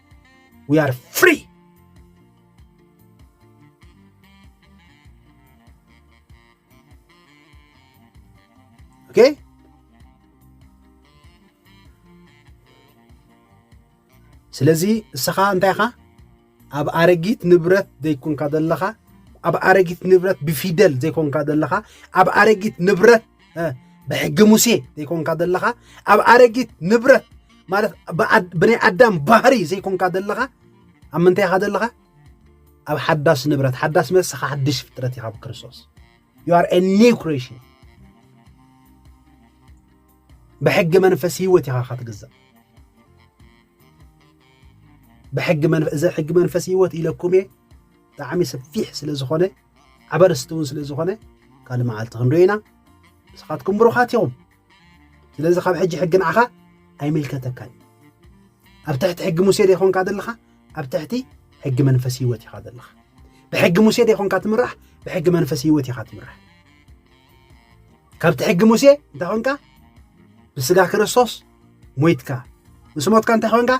ዊ ኣር ፍሪ ኦኬ ስለዚ ንስኻ እንታይ ኢኻ ኣብ ኣረጊት ንብረት ዘይኮንካ ዘለኻ ኣብ ኣረጊት ንብረት ብፊደል ዘይኮንካ ዘለኻ ኣብ ኣረጊት ንብረት ብሕጊ ሙሴ ዘይኮንካ ዘለኻ ኣብ ኣረጊት ንብረት ማለት ብናይ ኣዳም ባህሪ ዘይኮንካ ዘለኻ ኣብ ምንታይ ኢኻ ዘለኻ ኣብ ሓዳስ ንብረት ሓዳስ ንብረት ስኻ ሓድሽ ፍጥረት ኢኻ ብክርስቶስ ዩ ኣር ኒው ክሬሽን ብሕጊ መንፈስ ህይወት ኢኻ ኻትግዛእ ብሕጊ መንፈስ እዚ ሕጊ መንፈስ ህይወት ኢለኩም እየ ብጣዕሚ ሰፊሕ ስለ ዝኾነ ዓበርስቲ እውን ስለ ዝኾነ ካልእ መዓልቲ ክንሪኦ ኢና ንስኻትኩም ብሩኻት ኢኹም ስለዚ ካብ ሕጂ ሕጊ ንዓኻ ኣይምልከተካን እዩ ኣብ ትሕቲ ሕጊ ሙሴ ዶ ይኮንካ ዘለኻ ኣብ ትሕቲ ሕጊ መንፈስ ህይወት ኢኻ ዘለኻ ብሕጊ ሙሴ ዶ ይኮንካ ትምራሕ ብሕጊ መንፈስ ህይወት ኢኻ ትምራሕ ካብቲ ሕጊ ሙሴ እንታይ ኮንካ ብስጋ ክርስቶስ ሞይትካ ምስ ሞትካ እንታይ ኮንካ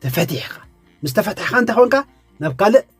ተፈቲሕካ ምስ ተፈትሕካ እንታይ ኮንካ ናብ ካልእ